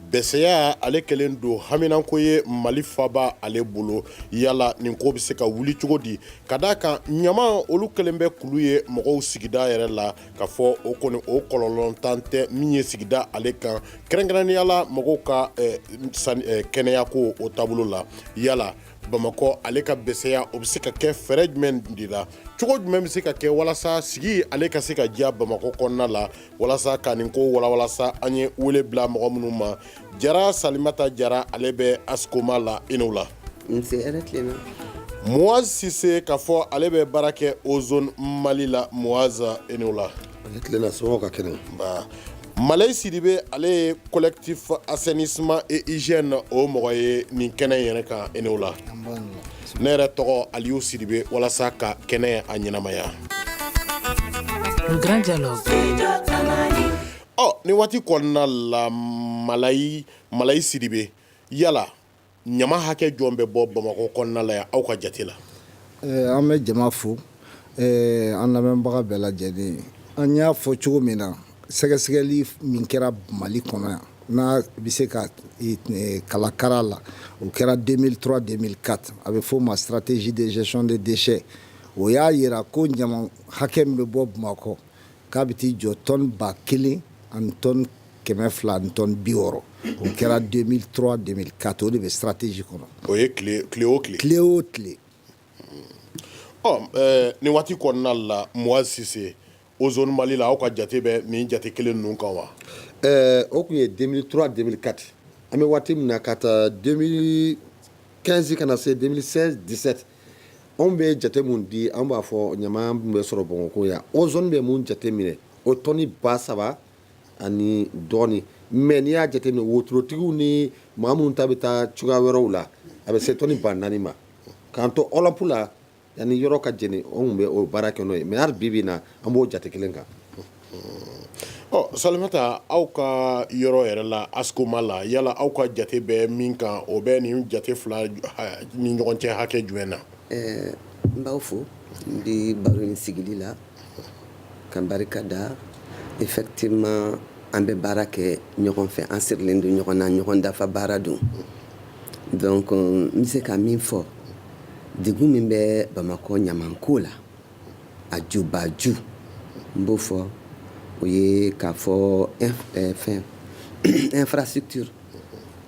Bɛsɛya ale kɛlen don haminanko ye mali faba ale bolo yala nin ko bɛ se ka wuli cogo di ka d' a kan ɲama olu kɛlen bɛ kulu ye mɔgɔw sigida yɛrɛ la k'a fɔ o kɔni o kɔlɔlɔntan tɛ min ye sigida ale kan kɛrɛnkɛrɛnnenya la mɔgɔw ka kɛnɛya ko o taabolo la yala bamakɔ ale ka bɛsɛya o bɛ se ka kɛ fɛɛrɛ jumɛn de la cogo jumɛn bɛ se ka kɛ walasa sigi ale ka se ka diya bamakɔ kɔnɔna la walasa ka nin ko walawala sa an ye wele bila mɔgɔ minnu ma jara salimata jara ale bɛ askoma la i ni wula moise sise k'a fɔ ale bɛ baara kɛ ozone mali la moise i ni wula malayi sidibe ale ye collectif assainissement et hygiène o mɔgɔ ye nin kɛnɛ yɛrɛ kan i ni wula ne yɛrɛ tɔgɔ aliyu sidibe walasa ka kɛnɛ a ɲɛnamaya nin waati kɔnɔna la malayi sidibe yala ɲama hakɛ jɔn bɛ bɔ bamakɔ kɔnɔna la yan aw ka jate la an bɛ jama fo an lamɛnbaga bɛɛ lajɛlen an y'a fɔ cogo min na sɛgɛsɛgɛli min kɛra mali kɔnɔ yan n'a bɛ se ka kalakara la o kɛra 2003 2004 a bɛ f'o ma stratégie de gestion de déchets o y'a jira ko ɲama hakɛ min bɛ bɔ Bamakɔ k'a bɛ t'i jɔ tɔni ba kelen ani tɔni kɛmɛ fila ani tɔni bi wɔɔrɔ o kɛra 2003 2004 o de bɛ stratégie kɔnɔ o ye tile tile o tile tile o tile ɔ nin waati kɔnɔna la Moise Sise Ozone mali la aw ka jate bɛ nin jate kelen ninnu kan wa ɛɛ o tun ye 2003 2004 an bɛ waati min na ka taa 2015 ka na se 2016 17 anw bɛ jate min di an b'a fɔ ɲama min bɛ sɔrɔ bamakɔ yan ozone bɛ min jate minɛ o tɔni ba saba ani dɔɔnin mais n'i y'a jate minɛ wotorotigiw ni maa minnu ta bɛ taa cogoya wɛrɛw la a bɛ se tɔni ba naani ma k'an to alap la Yani yɔrɔ ka jɛ ni anw bɛ o baara kɛ n'o ye mais hali bi bi in na an b'o jate kelen kan salimata aw ka yɔrɔ yɛrɛ la askoma la yala aw ka jate bɛ min kan o bɛ nin jate fila ni ɲɔgɔn cɛ hakɛ jumɛn na ɛɛ n b'aw fo n bɛ baro in sigi la Ka barika da effectivement an bɛ baara kɛ ɲɔgɔn fɛ an sirilen don ɲɔgɔn na ɲɔgɔn dafa baara don donc n bɛ se ka min fɔ degun min bɛ bamakɔ ɲamanko la a jubaju n b'o fɔ o ye k'a fɔ eh, fɛn infrastructure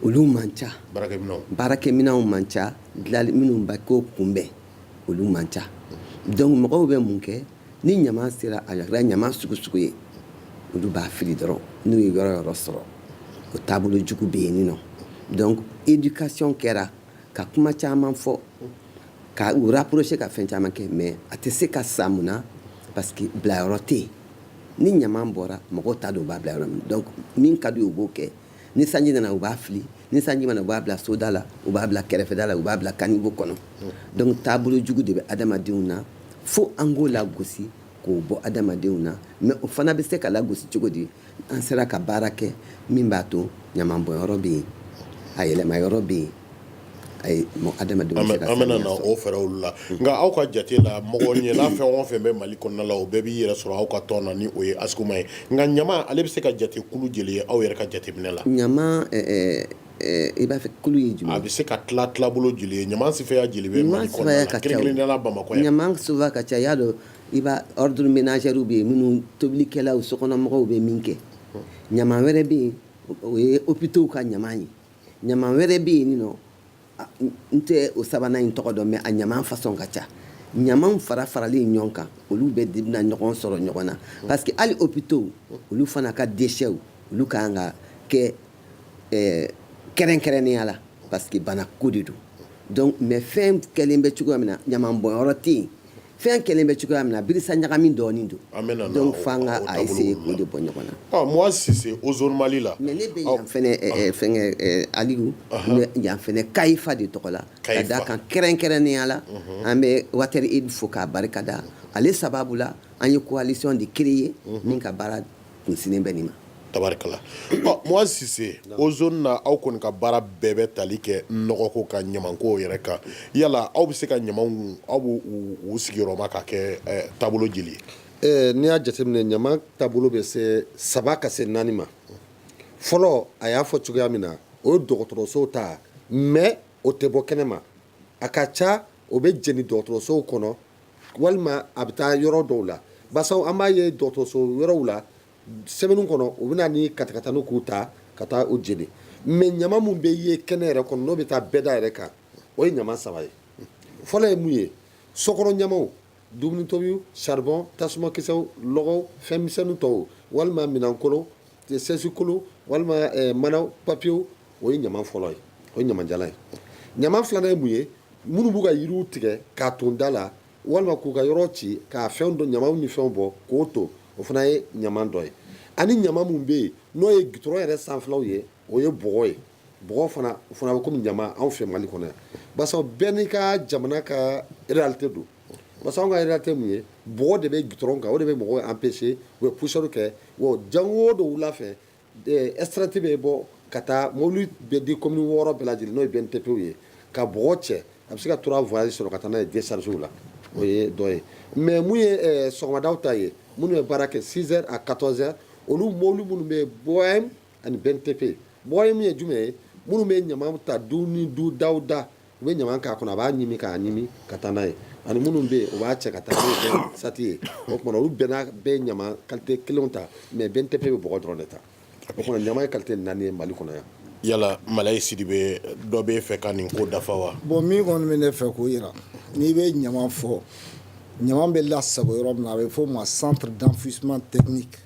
olu man ca baarakɛminɛnw man ca dilali minnu ba k'o kunbɛn olu man ca donc mɔgɔw bɛ mun kɛ ni ɲama sera a kɛra ɲama sugu sugu ye olu b'a fili dɔrɔn n'u ye yɔrɔ yɔrɔ sɔrɔ o taabolo jugu bɛ yen nɔ donc éducation kɛra ka kuma caman fɔ ka u rapprocher ka fɛn caman kɛ mais a tɛ se ka sa mun na parce que bilayɔrɔ tɛ yen ni ɲama bɔra mɔgɔw t'a dɔn u b'a bila yɔrɔ min donc min ka di u ye u b'o kɛ ni sanji nana u b'a fili ni sanji ma na u b'a bila soda la u b'a bila kɛrɛfɛda la u b'a bila kanibo kɔnɔ donc taabolo jugu de bɛ adamadenw na fo an k'o lagosi k'o bɔ adamadenw na mais o fana bɛ se ka lagosi cogo di an sera ka baara kɛ min b'a to ɲamanbɔnyɔrɔ bɛ yen a yɛlɛmayɔrɔ bɛ yen Ayi bon adama an bɛna na o fɛɛrɛw la nka aw ka jate la mɔgɔ ɲɛnama fɛn o fɛn bɛ mali kɔnɔna la o bɛɛ b'i yɛrɛ sɔrɔ aw ka tɔn na ni o ye ASCOMA ye nka ɲama ale bɛ se ka jate kulu jeli ye aw yɛrɛ ka jate minɛ la ɲama i b'a fɛ kulu ye a bɛ se ka tila tilabolo joli ye ɲama sifaya jeli bɛ mali kɔnɔna la kɛrɛnkɛrɛnnenya la bamakɔ yan ɲama suguya ka ca i y'a dɔn i b'a ordures ménagères bɛ yen minnu tobilikɛlaw sokɔnɔmɔgɔw bɛ min kɛ ɲama wɛrɛ bɛ yen o ye hôpitaux ka ɲama ye ɲama wɛrɛ bɛ yen nɔ n tɛ o sabanan in tɔgɔ dɔn mais a ɲama façon ka ca ɲamaw fara faralen ɲɔgɔn kan olu bɛɛ de bɛna ɲɔgɔn sɔrɔ ɲɔgɔn na parce que hali hôpitaux olu fana ka déchets olu ka kan ka kɛ eh, kɛrɛnkɛrɛnnenya la parce que banako de don donc mais fɛn kɛlen bɛ cogoya min na ɲaman bɔnyɔrɔ tɛ yen fɛn kɛlen bɛ cogoya min na birisa ɲagami dɔɔnin don donc f'an ka a essayer k'o de bɔ ɲɔgɔn na ah, Moha Cissé Ozone mali la mais ne bɛ yan fɛnɛ ah. eh, fɛngɛ eh, aliyu n bɛ yan fɛnɛ CAEPHA de tɔgɔ la ka d'a kan kɛrɛnkɛrɛnnenya la mhm. an bɛ water aid fo k'a barika da ale sababu la an ye coalition de créer mhm. min ka baara kunsinnen bɛ nin ma tabarikala Moha Cissé Ozone na aw kɔni ka baara bɛɛ bɛ tali kɛ nɔgɔko kan ɲamanko yɛrɛ kan yala aw bɛ se ka ɲama aw b'u sigiyɔrɔma ka kɛ taabolo jeli ye n'i y'a jateminɛ ɲama taabolo bɛ se saba ka se naani ma fɔlɔ a y'a fɔ cogoya min na o ye dɔgɔtɔrɔsow ta mais o tɛ bɔ kɛnɛ ma a ka ca o bɛ jeni dɔgɔtɔrɔsow kɔnɔ walima a bɛ taa yɔrɔ dɔw la basa an b'a ye dɔgɔtɔrɔso yɔrɔw la semaine kɔnɔ u bɛ na ni katakatanin k'u ta ka taa u jeni mais ɲama minnu bɛ ye kɛnɛ yɛrɛ kɔnɔ n'o bɛ taa bɛda yɛrɛ kan o ye ɲama saba ye fɔlɔ ye mun ye sokɔnɔ ɲamaw dumunitobi saribon tasumakisɛw lɔgɔw fɛnmisɛn tɔw walima minɛnkolon sɛsikolon walima manaw papiyew o ye ɲama fɔlɔ ye o ye ɲamajala ye ɲama filanan ye mun ye minnu b'u ka yiriw tigɛ k'a ton da la walima k'u ka yɔrɔ ci k'a fɛn dɔ ɲamaw ni fɛnw bɔ k'o ton o fana ye ɲama dɔ ye ani ɲama min bɛ yen n'o ye gitɔrɔn yɛrɛ sanfɛlaw ye o ye bɔgɔ ye bɔgɔ fana o fana bɛ kɔmi ɲama anw fɛ mali kɔnɔ yan barisa bɛɛ n'i ka jamana ka réalité don barisa anw ka réalité min ye bɔgɔ de bɛ gitɔrɔn kan o de bɛ mɔgɔw empêcher u bɛ poussière kɛ wa jango dɔ wula fɛ Esrati bɛ bɔ ka taa mobili bɛ di commune wɔɔrɔ bɛɛ lajɛlen n'o benne TP ye ka bɔgɔ cɛ a bɛ se ka trois voyages sɔrɔ ka taa n'a ye décharge la o ye dɔ ye mais mun ye sɔgɔmada ta ye minnu bɛ baara kɛ six heures à quatorze heures olu mɔbili minnu bɛ BOM ani benne TP BOM ye jumɛn ye minnu bɛ ɲama ta du ni dudaw da U bɛ ɲama k'a kɔnɔ a b'a ɲimi k'a ɲimi ka taa n'a ye ani minnu bɛ yen u b'a cɛ ka taa sati ye o tuma olu bɛɛ bɛ ɲama kalite kelen ta mais benne TP bɛ bɔgɔ dɔrɔn de ta o tuma ɲama ye kalite naani ye mali kɔnɔ yan yala Malayi Sidibe dɔ b'e fɛ ka nin ko dafa wa bon min kɔni bɛ ne fɛ k'o yira n'i bɛ ɲama fɔ ɲama bɛ lasago yɔrɔ min na a bɛ fɔ o ma centre d'enfouissement technique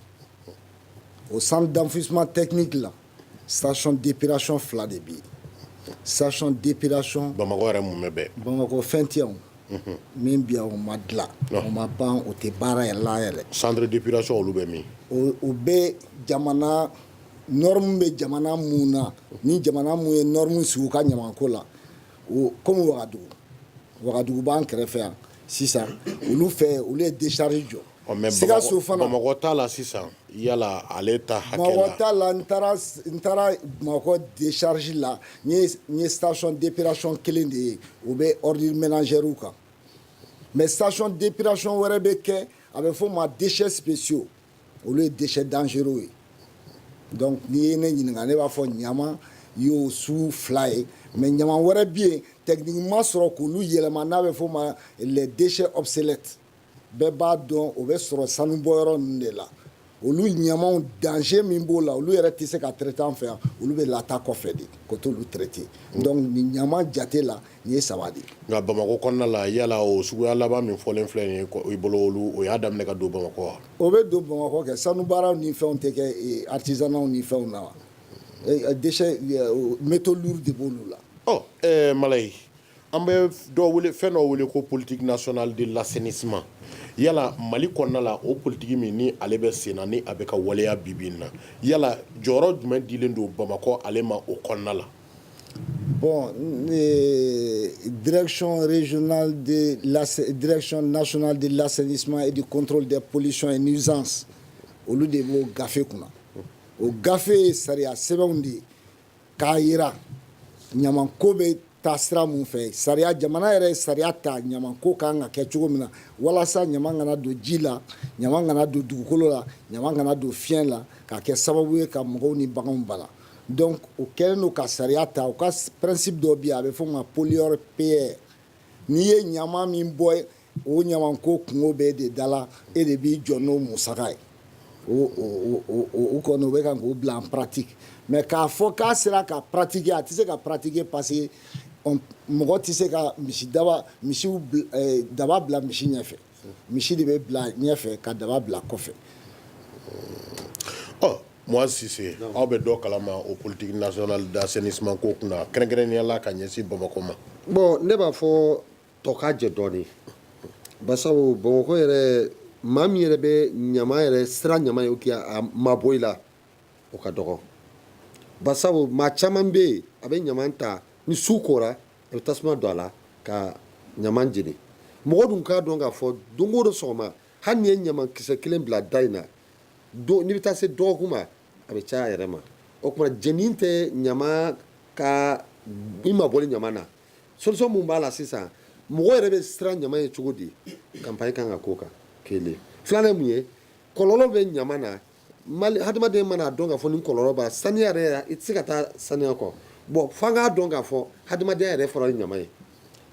o centre d'enfouissement technique la station d'épuration fila de bɛ yen station d'épuration bamakɔ yɛrɛ mun bɛ bɛɛ bamakɔ fɛn tɛ yan min bɛ yan o ma dilan o ma ban o tɛ baara yɛrɛ la yɛrɛ centre d'épuration olu bɛ min o bɛ jamana norme bɛ jamana mun na ni jamana mun ye norme sigi u ka ɲamanko la o komi wagadugu wagadugu b'an kɛrɛfɛ yan sisan olu fɛ olu ye décharge jɔ Ɔ mais Sikaso fana, Bamakɔ ta la sisan yala ale ta hakɛ la, Bamakɔ ta la n taara n taara Bamakɔ décharge la n ye n ye station d'épuration kelen de ye o bɛ ordures ménagères kan mais station d'épuration wɛrɛ bɛ kɛ a bɛ f'o ma déchets spéciaux olu ye déchets dangereux ye donc n'i ye ne ɲininka ne b'a fɔ ɲama y'o sugu fila ye mais ɲama wɛrɛ bɛ yen techniquement sɔrɔ k'olu yɛlɛma n'a bɛ f'o ma les déchets obsolètes bɛɛ b'a dɔn o bɛ sɔrɔ sanubɔyɔrɔ ninnu de la olu ɲamaw danger min b'o la olu yɛrɛ tɛ se ka traiter an fɛ yan olu bɛ lataa kɔfɛ de ko t'olu traiter donc nin ɲama jate la nin ye saba de ye. nka Bamakɔ kɔnɔna la yala o suguya laban min fɔlen filɛ nin ye i bolo olu o y'a daminɛ ka don Bamakɔ wa. o bɛ don Bamakɔ kɛ sanubaaraw ni fɛnw tɛ kɛ artisanat ni fɛnw na wa déchets métaux lourds de b'olu la. ɔ ɛɛ Malayi An bɛ dɔ fɛn dɔ wele ko politique nationale de l'assainissement yala mali kɔnɔna la o politique min ni ale bɛ sen na ni a bɛ ka waleya bibi na yala jɔyɔrɔ jumɛn dilen don bamakɔ ale ma o kɔnɔna la bon direction nationale de l'assainissement et du contrôle des pollutions et nuisances olu de b'o gafe kunna o gafe ye sariya sɛbɛnw de ye k'a yira ɲamanko bɛ taa sira min fɛ sariya jamana yɛrɛ ye sariya ta ɲamanko ka kan ka kɛ cogo min na walasa ɲama kana don ji la ɲama kana don dugukolo la ɲama kana don fiɲɛ la ka kɛ sababu ye ka mɔgɔw ni baganw bala donc o kɛlen don ka sariya ta o ka principe dɔ bɛ yen a bɛ fɔ o ma pollueur payeur n'i ye ɲama min bɔ O ɲama ko kunko b'e de da la e de b'i jɔ n'o musaka ye o kɔni o bɛ kan k'o bila en pratique mais k'a fɔ k'a sera ka pratiquer a tɛ se ka pratiquer parce que mɔgɔ tɛ se ka misi daba misi daba bila misi ɲɛfɛ misi de bɛ bila ɲɛfɛ ka daba bila kɔfɛ ɔ mɔgɔ Cissé aw bɛ dɔ kalama o politique nationale d'assainissement ko kunna kɛrɛnkɛrɛnnenya la ka ɲɛsin bamakɔ ma bon ne b'a fɔ tɔ ka jɛ dɔɔnin basabu bamakɔ yɛrɛ maa min yɛrɛ bɛ ɲama yɛrɛ siran ɲama ye k'a mabɔ i la o ka dɔgɔ basabu maa caman bɛ yen a bɛ ɲama ta ni su kora a bɛ tasuma don a la ka ɲama jeni mɔgɔ dun k'a dɔn k'a fɔ don o don sɔgɔma hali n'i ye ɲama kisɛ kelen bila da in na n'i bɛ taa se dɔgɔkun ma a bɛ caya yɛrɛ ma o tuma jeni tɛ ɲama ka i mabɔli ɲama na solution mun b'a la sisan mɔgɔ yɛrɛ bɛ siran ɲama ye cogo di campagne kan ka k'o kan kelen filanan mun ye kɔlɔlɔ bɛ ɲama na mali hadamaden man'a dɔn k'a fɔ ni kɔlɔlɔ b'a saniya yɛrɛ i tɛ se ka taa saniya kɔ bon f'an k'a dɔn k'a fɔ hadamadenya yɛrɛ fɔra ni ɲama ye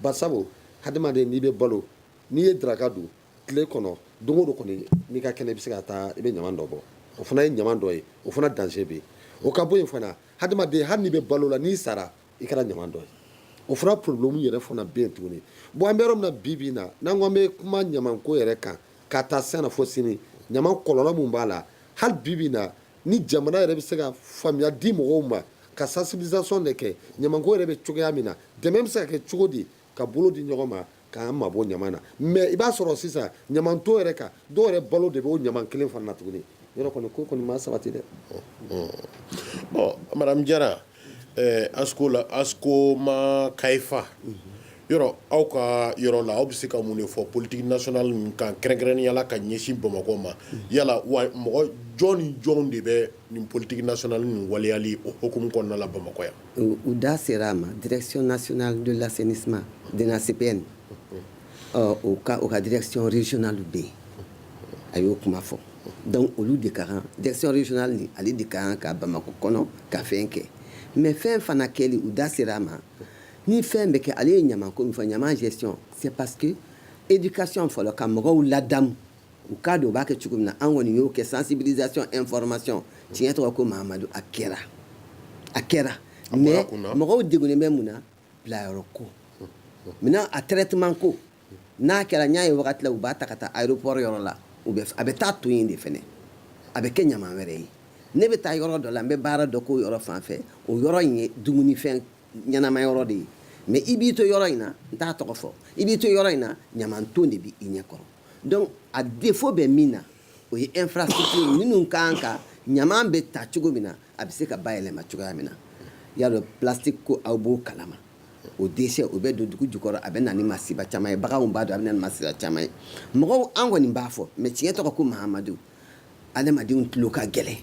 basabu hadamaden n'i bɛ balo n'i ye daraka dun tile kɔnɔ don o don kɔni n'i ka kɛnɛ i bɛ se ka taa i bɛ ɲama dɔ bɔ o fana ye ɲama dɔ ye o fana danger bɛ yen o ka bɔ yen fana hadamaden hali n'i bɛ balo la n'i sara i kɛra ɲama dɔ ye o fana problème yɛrɛ fana bɛ yen tuguni bon an bɛ yɔrɔ min na bi bi na n'an ko an bɛ kuma ɲamanko yɛrɛ kan k'a ta sisan na fo sini ɲaman kɔlɔlɔ mun b'a la hali bi bi na ni jamana yɛrɛ bɛ se ka faamuya di mɔgɔw ma ka sensibilisation de kɛ ɲamanko yɛrɛ bɛ cogoya min na dɛmɛ bɛ se ka kɛ cogo di ka bolo di ɲɔgɔn ma k'an mabɔ ɲama na mais i b'a sɔrɔ sisan ɲamanton yɛrɛ kan dɔw yɛrɛ balo de bɛ o ɲama kelen fana na tuguni yɔrɔ kɔni ko kɔni ma sabati dɛ madame Jara asko la ASCOMA ka fan yɔrɔ aw ka yɔrɔ la aw bɛ se ka mun de fɔ politique nationale nin kan kɛrɛnkɛrɛnnenya la ka ɲɛsin bamakɔ ma yala wa mɔgɔ jɔn ni jɔn de bɛ nin politique nationale nin waleyali o hukumu kɔnɔna la bamakɔ yan U da sera a ma direction nationale de l'assainissement DNACPN u ka u ka direction régionale bɛ yen a y'o kuma fɔ donc olu de ka kan direction régionale nin ale de ka kan ka bamakɔ kɔnɔ ka fɛn kɛ mais fɛn fana kɛli u da sera a ma ni fɛn bɛ kɛ ale ye ɲama ko min fɔ ɲama gestion c'est parce que éducation fɔlɔ ka mɔgɔw ladamu U k'a dɔn u b'a kɛ cogo min na an kɔni y'o kɛ sensibilisation information tiɲɛ tɔgɔ ko Mahamadu a kɛra a kɛra mais mɔgɔw degunnen bɛ mun na bilayɔrɔ ko maintenant a traitement ko n'a kɛra n y'a ye wagati la u b'a ta ka taa aéroport yɔrɔ la u bɛ a bɛ taa to yen de fɛnɛ a bɛ kɛ ɲaman wɛrɛ ye ne bɛ taa yɔrɔ dɔ la n bɛ baara dɔ k'o yɔrɔ fan fɛ o yɔrɔ in ye dumunifɛn ɲɛnama yɔrɔ de ye mais i b'i to yɔrɔ in na n t'a tɔgɔ fɔ i b'i to yɔrɔ in na ɲaman ton de bɛ i ɲɛ kɔrɔ Donc a défaut bɛ min na o ye infrastructure minnu ka kan ɲaman bɛ ta cogo min na a bɛ se ka bayɛlɛma cogoya min na y'a dɔn plastique ko aw b'o kalama o déchet o bɛ don dugu jukɔrɔ a bɛ na ni masiba caman ye baganw b'a dun a bɛ na ni masiba caman ye mɔgɔw an kɔni b'a fɔ mais tiɲɛ tɔgɔ ko Mahamadu adamadenw tulo ka gɛlɛn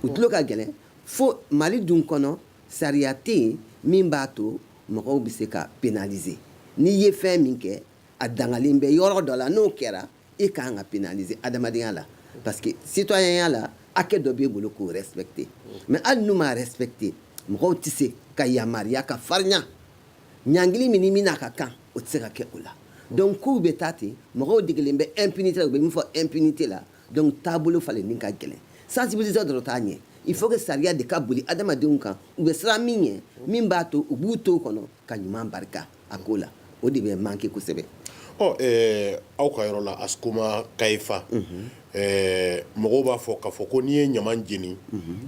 u tulo ka gɛlɛn fo Mali dun kɔnɔ sariya tɛ yen min b'a to mɔgɔw bɛ se ka pénaliser n'i ye fɛn min kɛ a dangalen bɛ yɔrɔ dɔ la n'o kɛra e ka kan ka pénaliser adamadenya la parce que citoyenya la hakɛ dɔ b'e bolo k'o respecter mais hali n'u m'a respecter mɔgɔw tɛ se ka yamaruya ka farinya ɲangili min ni min n'a ka kan o tɛ se ka kɛ o la donc kow bɛ taa ten mɔgɔw degelen bɛ impunité la u bɛ min fɔ impunité la donc taabolo falenni ka gɛlɛn sensibiliser dɔrɔn t'a ɲɛ il faut que sariya de ka boli adamadenw kan u bɛ siran min ɲɛ min b'a to u b'u to o kɔnɔ ka ɲuman barika a ko la o de bɛ manquer kosɛbɛ aw ka yɔrɔ la Askoma Kaifa mɔgɔw b'a fɔ k'a fɔ ko n'i ye ɲaman jeni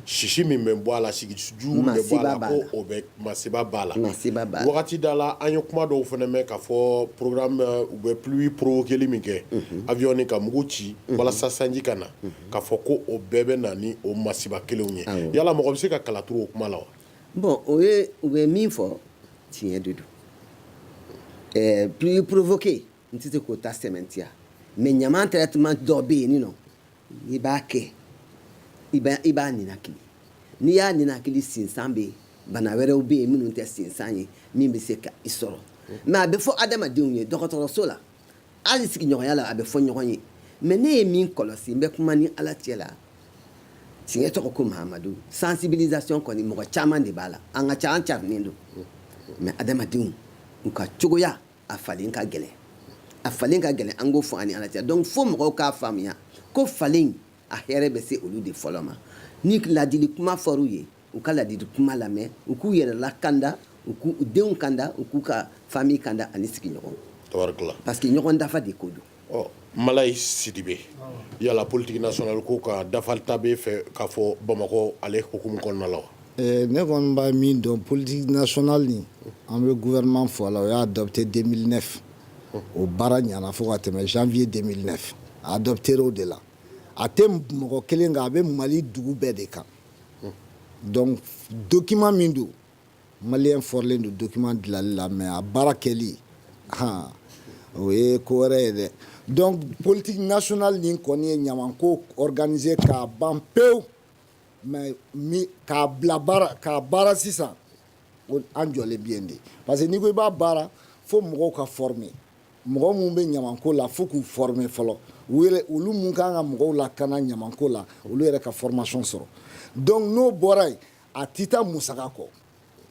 sisi min bɛ bɔ a la sisi jugu min bɛ bɔ a la ko o bɛ masiba b'a la wagati dɔ la an ye kuma dɔw fana mɛn k'a fɔ programme u bɛ pluie provoquée min kɛ avion ni ka mugu ci walasa sanji ka na k'a fɔ ko o bɛɛ bɛ na ni o masiba kelenw ye yala mɔgɔ bɛ se ka kala turu o kuma la wa Bon o ye u bɛ min fɔ tiɲɛ de don ɛɛ pluie provoquée n tɛ se k'o ta sɛmɛntiya mais ɲaman traitement dɔ bɛ yen nin nɔ i b'a kɛ i i b'a ninakili n'i y'a ninakili sinsan bɛ yen bana wɛrɛw bɛ yen minnu tɛ sinsan ye min bɛ se ka i sɔrɔ mais a bɛ fɔ adamadenw ye dɔgɔtɔrɔso la hali sigiɲɔgɔnya la a bɛ fɔ ɲɔgɔn ye mais ne ye min kɔlɔsi n bɛ kuma ni ala cɛ la tiɲɛ tɔgɔ ko Mahamadu sensibilisation kɔni mɔgɔ caman de b'a la an ka ca an carinen don mais adamadenw u ka cogoya a falen ka gɛlɛn a falen ka gɛlɛn an k'o fɔ an ni ala cɛ donc fo mɔgɔw k'a faamuya ko falen a hɛrɛ bɛ se olu de fɔlɔ ma ni ladili kuma fɔr'u ye u ka ladili kuma lamɛn u k'u yɛrɛ lakanda u k'u denw kanda u k'u ka famille kanda ani sigiɲɔgɔn parce que ɲɔgɔn dafa de ko don ɔ malayi sidibe yala politique nationale ko ka dafa ta bɛ fɛ k'a fɔ bamakɔ ale hukumu kɔnɔna la wa eh, ne kɔni b'a min dɔn politique nationale nin an bɛ gouvernement fɔ a la o y'a adopté 2009 o baara ɲana fo ka tɛmɛ janvier 2009 a adopté o de la a tɛ mɔgɔ kelen kan a bɛ mali dugu bɛɛ de kan donc document min don malien forlen don document dilali la mais a baara kɛli o ye ko wɛrɛ ye dɛ donc politique nationale nin kɔni ye ɲamanko organiser k'a ban pewu mais k'a bila baara k'a baara sisan an jɔlen bi yen de parce que n'i ko i b'a baara fo mɔgɔw ka former mɔgɔ minnu bɛ ɲamanko la fo k'u former fɔlɔ u yɛrɛ olu minnu kan ka mɔgɔw lakana ɲamanko la olu yɛrɛ ka formation sɔrɔ donc n'o bɔra yen a tɛ taa musaka kɔ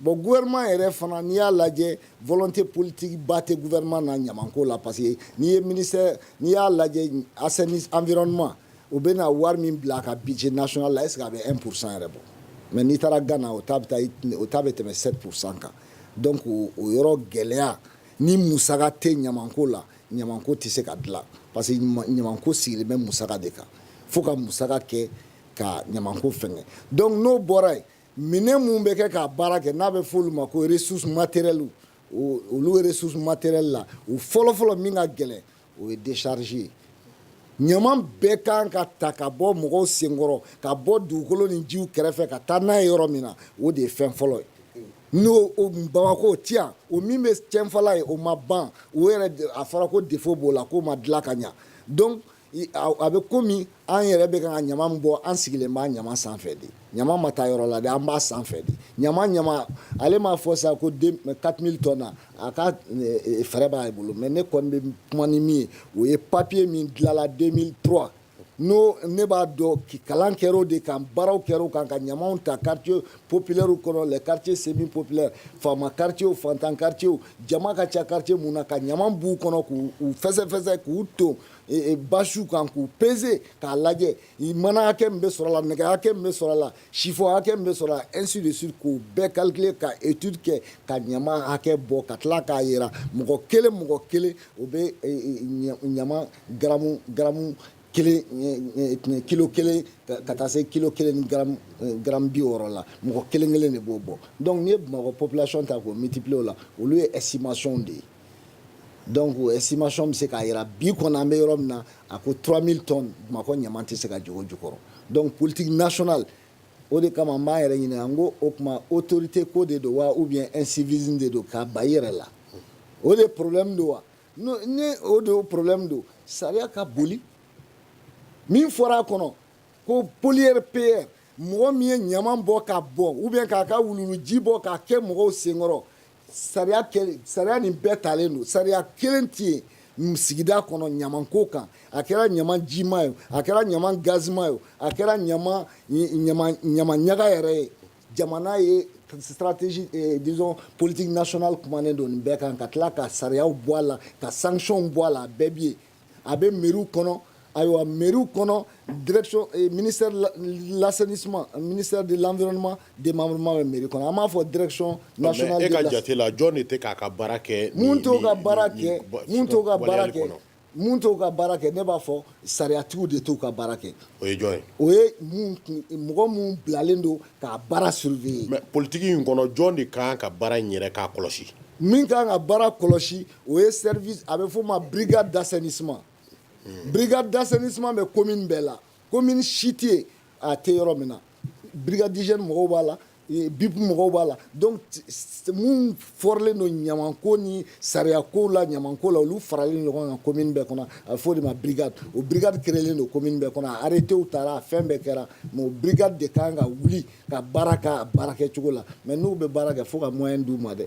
bon gouvernement yɛrɛ fana n'i y'a lajɛ volonté politique ba tɛ gouvernement na ɲamanko la parce que n'i ye ministère n'i y'a lajɛ assainissement environnement u bɛ na wari min bila a ka budget national la est ce que a bɛ 1 pourcent yɛrɛ bɔ mais n'i taara Ghana o ta bɛ taa o ta bɛ tɛmɛ 7 pourcent kan donc o yɔrɔ gɛlɛya Ni musaka tɛ ɲamanko la ɲamanko tɛ se ka dilan parce que ɲamanko sigilen bɛ musaka de kan fo ka musaka kɛ ka ɲamanko fɛngɛ donc n'o bɔra yen minɛn minnu bɛ kɛ k'a baara kɛ n'a bɛ f'olu ma ko ressources matérielles olu ressources matérielles la o fɔlɔfɔlɔ min ka gɛlɛn o ye décharge ye ɲaman bɛɛ kan ka ta ka bɔ mɔgɔw senkɔrɔ ka bɔ dugukolo ni jiw kɛrɛfɛ ka taa n'a ye yɔrɔ min na o de ye fɛn fɔlɔ ye n'o bamakɔ ti yan o min bɛ cɛnfala yen o ma ban o yɛrɛ a fɔra ko défaut b'o la k'o ma dilan ka ɲa donc a bɛ komi an yɛrɛ bɛ ka ka ɲama min bɔ an sigilen b'a ɲama sanfɛ de ɲama ma taa yɔrɔ la de an b'a sanfɛ de ɲama ɲama ale m'a fɔ sa ko 4000 tonnes na A ka fɛɛrɛ b'a bolo mais ne kɔni bɛ kuma ni min ye o ye papier min dilanla 2003 n'o ne b'a dɔn kalan kɛra o de kan baaraw kɛra o kan ka ɲamaw ta quartier populaire kɔnɔ les quartiers semi populaires faama quartier o fantan quartier o jama ka ca quartier min na ka ɲama b'u kɔnɔ k'u fɛsɛfɛsɛ k'u ton basiw kan k'u peser k'a lajɛ mana hakɛ min bɛ sɔrɔ la nɛgɛ hakɛ min bɛ sɔrɔ la Chiffon hakɛ min bɛ sɔrɔ ainsi de suite k'o bɛɛ calculer ka étude kɛ ka ɲama hakɛ bɔ ka tila k'a jira mɔgɔ kelen mɔgɔ kelen o bɛ ɲama gramme kilo kelen ka taa se kilo kelen ni gramme bi wɔɔrɔ la mɔgɔ kelen kelen de b'o bɔ donc n'i ye bamakɔ population ta k'o multiplier o la olu ye estimationw de ye donc estimation bɛ se k'a jira bi kɔni an bɛ yɔrɔ min na a ko 3000 tonnes Bamakɔ ɲaman tɛ se ka jigin o jukɔrɔ donc politique nationale o de kama n b'an yɛrɛ ɲininka n ko o tuma autorité ko de don wa ou bien incivisme de don k'a ba i yɛrɛ la o de problème don wa ni o de problème don sariya ka boli min fɔra a kɔnɔ ko pollueur payeur mɔgɔ min ye ɲaman bɔ ka bɔn ou bien k'a ka wuluwuluji bɔ k'a kɛ mɔgɔw senkɔrɔ Sariya kelen, sariya nin bɛɛ talen don, sariya kelen tɛ yen sigida kɔnɔ ɲaman ko kan, a kɛra ɲaman jima ye, a kɛra ɲaman gazima ye, a kɛra ɲaman ɲaman ɲaga yɛrɛ ye, jamana ye stratégie disons politique nationale kumanen don nin bɛɛ kan ka tila ka sariyaw bɔ a la, ka sanctions bɔ a la, a bɛɛ bɛ yen. a bɛ miw kɔnɔ ayiwa miw kɔnɔ laseni suma mini de laɔnma de ma bɛ mi kɔnɔ an b'a fɔ dɛrɛcɔn ka jate la jɔn de k'a ka baara kɛ to ka baara kɛ to ka baara kɛ min to ka baara kɛ ne b'a fɔ sariyacogo de t'u ka baara kɛ o ye jɔn ye o ye mɔgɔ minnu bilalen don k'a baara siri politigi in kɔnɔ jɔn de ka ka baara in yɛrɛ k'a kɔlɔsi min ka kan ka baara kɔlɔsi o ye service a bɛ f'o ma brigade d'assainissement brigade d'assainissement bɛ commune bɛɛ la commune si tɛ yen a tɛ yɔrɔ min na brigade d'hygiène mɔgɔw b'a la BUPE mɔgɔw b'a la donc minnu fɔrlen don ɲamanko ni sariyakow la ɲamanko la olu faralen ɲɔgɔn kan commune bɛɛ kɔnɔ a bɛ f'o de ma brigade o brigade créelen don commune bɛɛ kɔnɔ a arrêtés tara a fɛn bɛɛ kɛra mais o brigade de ka kan ka wuli ka baara k'a baarakɛcogo la mais n'u bɛ baara kɛ fo ka moyen d'u ma dɛ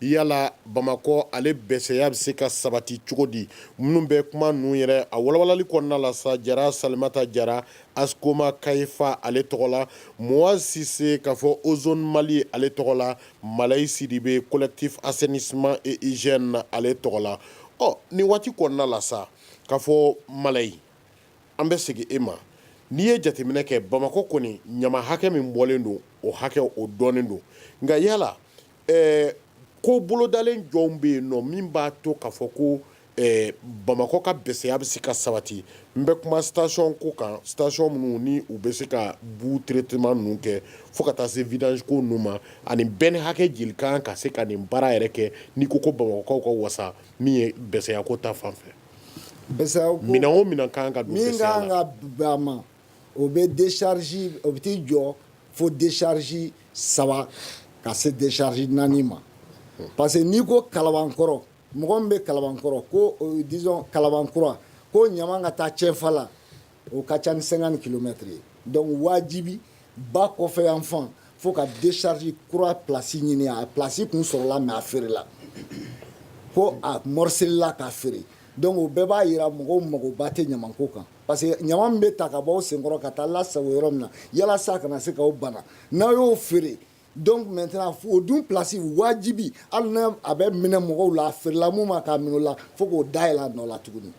yala bamakɔ ale bɛsɛya bɛ se ka sabati cogo di minnu bɛ kuma ninnu yɛrɛ a walawalali kɔnɔna la sa jara salimata jara askoma kayifa ale tɔgɔ la moaz sise k'a fɔ ozone mali ale tɔgɔ la malayi sidibe collectif assainissement et hygiène ale tɔgɔ la ɔ nin waati kɔnɔna la sa k'a fɔ malayi an bɛ segin e ma n'i ye jateminɛ kɛ bamakɔ kɔni ɲaman hakɛ min bɔlen don o hakɛ o dɔnnen don nka yala ɛɛ ko bolodalen jɔnw bɛ yen nɔ min b'a to k'a fɔ ko ɛɛ bamakɔ ka bɛsɛya bɛ se ka sabati n bɛ kuma station ko kan station minnu ni u bɛ se ka boue traitement ninnu kɛ fo ka taa se vidange ko ninnu ma ani benne hakɛ joli ka kan ka se ka nin baara yɛrɛ kɛ n'i ko ko bamakɔkaw ka wasa min ye bɛsɛya ko ta fan fɛ bɛsɛya ko minɛn o minɛn ka kan ka don bɛsɛya la min ka kan ka bɛn a ma o bɛ décharge o bɛ t'i jɔ fo décharge saba ka se décharge naani ma parce que n'i ko Kalabankɔrɔ mɔgɔ min bɛ Kalabankɔrɔ ko disons Kalabankura ko ɲama ka taa Cɛnfala o ka ca ni cinquante kilomètres ye donc wajibi ba kɔfɛ yan fan fo ka décharge kura place ɲini a place tun sɔrɔla mais a feerela fo a morcelila k'a feere donc o bɛɛ b'a jira mɔgɔw magoba tɛ ɲamako kan parce que ɲama min bɛ ta ka bɔ senkɔrɔ ka taa lasago yɔrɔ min na yalasa a kana se k'aw bana n'aw y'o feere donc maintenant o dun place wajibi hali n'a a bɛ minɛ mɔgɔw la a feerela mun ma k'a minɛ o la fo k'o dayɛlɛ a nɔ la tuguni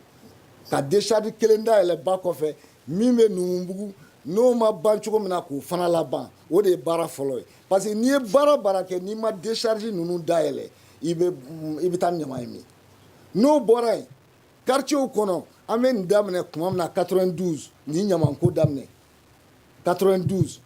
ka décharge kelen dayɛlɛ ba kɔfɛ min bɛ Numubugu n'o ma ban cogo min na k'o fana laban o de ye baara fɔlɔ ye parce que n'i ye baara baara kɛ n'i ma décharge ninnu dayɛlɛ i bɛ i bɛ taa ɲama ye min n'o bɔra yen Quartierw kɔnɔ an bɛ nin daminɛ tuma min na quatre-vingt-douze ni ɲamako daminɛ quatre-vingt-douze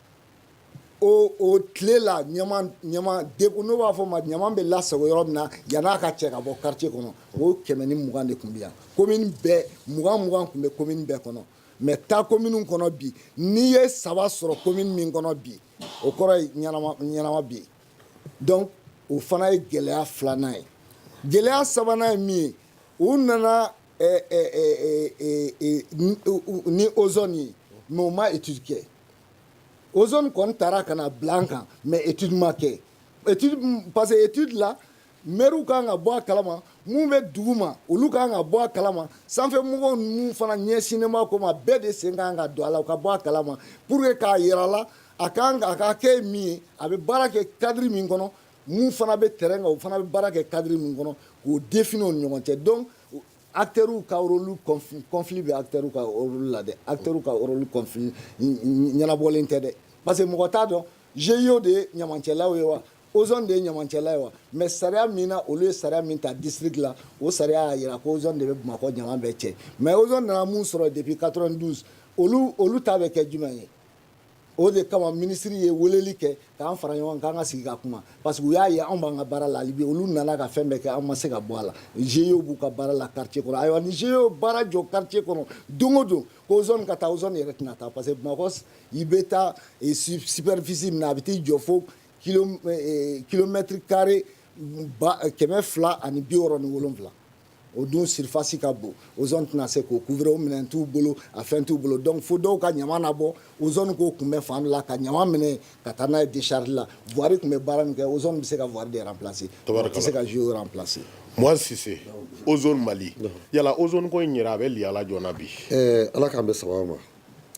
o tile la dek n'o b'a fɔ ma ɲama bɛ lasago yɔrɔ min na yan'a ka cɛ ka bɔ quartier kɔnɔ o kɛmɛ ni mugan de tun bɛ yan commune bɛɛ mugan mugan tun bɛ commune bɛɛ kɔnɔ mais taa communew kɔnɔ bi n'i ye saba sɔrɔ commune min kɔnɔ bi o kɔrɔ ye ɲɛnama bi yen donc o fana ye gɛlɛya filanan ye gɛlɛya sabanan ye min ye u nana ni ozone ye mais u ma étude kɛ ozone kɔni taara ka na bila an kan mais étude ma kɛ parce que étude la mɛriw ka kan ka bɔ a kalama minnu bɛ duguma olu ka kan ka bɔ a kalama sanfɛ mɔgɔw minnu fana ɲɛsinnen b'a ko ma bɛɛ de sen ka kan ka don a la u ka bɔ a kalama pour que k'a jira la a ka kan ka ka kɛ min ye a bɛ baara kɛ cadre min kɔnɔ Minnu fana bɛ terrain kan, u fana bɛ baara kɛ cadre min kɔnɔ, k'o définir u ni ɲɔgɔn cɛ donc acteurs ka rôle conflit conflit bɛ acteurs ka rôle la dɛ, acteurs ka rôle conflit ɲɛnabɔlen tɛ dɛ parce que mɔgɔ t'a dɔn GIE de ye ɲamancɛlaw ye wa? Ozone de ye ɲamancɛla ye wa? Mais sariya min na olu ye sariya min ta district la, o sariya y'a jira ko ozone de bɛ Bamakɔ ɲama bɛɛ cɛ mais ozone nana minnu sɔrɔ depuis 92 olu olu ta bɛ kɛ jumɛn ye? o de kama minisiri ye weleli kɛ k'an fara ɲɔgɔn kan ka sigi ka kuma parce que u y'a ye anw b'an ka baara la hali bi olu nana ka fɛn bɛɛ kɛ an ma se ka bɔ a la GIE b'u ka baara la quartier kɔnɔ ayiwa ni GIE ye baara jɔ quartier kɔnɔ don o don ko ozone ka taa ozone yɛrɛ tɛna taa parce que Bamakɔ i bɛ taa eh, superficie min na a bɛ t'i jɔ fo kilomètre eh, eh, carré kɛmɛ fila ani bi wɔɔrɔ ni wolonwula o dun surface ka bon ozone tɛna se k'o couvrir o minɛn t'u bolo a fɛn t'u bolo donc fo dɔw ka ɲama nabɔ ozone k'o kunbɛn fan dɔ la ka ɲama minɛ ka taa n'a ye décharge la voirie tun bɛ baara min kɛ ozone bɛ se ka voirie de remplacer tɛ se ka GIE remplacer Moise Sise ozone Mali yala ozone ko in yɛrɛ a bɛ yalala jɔna bi ala k'an bɛ saba ma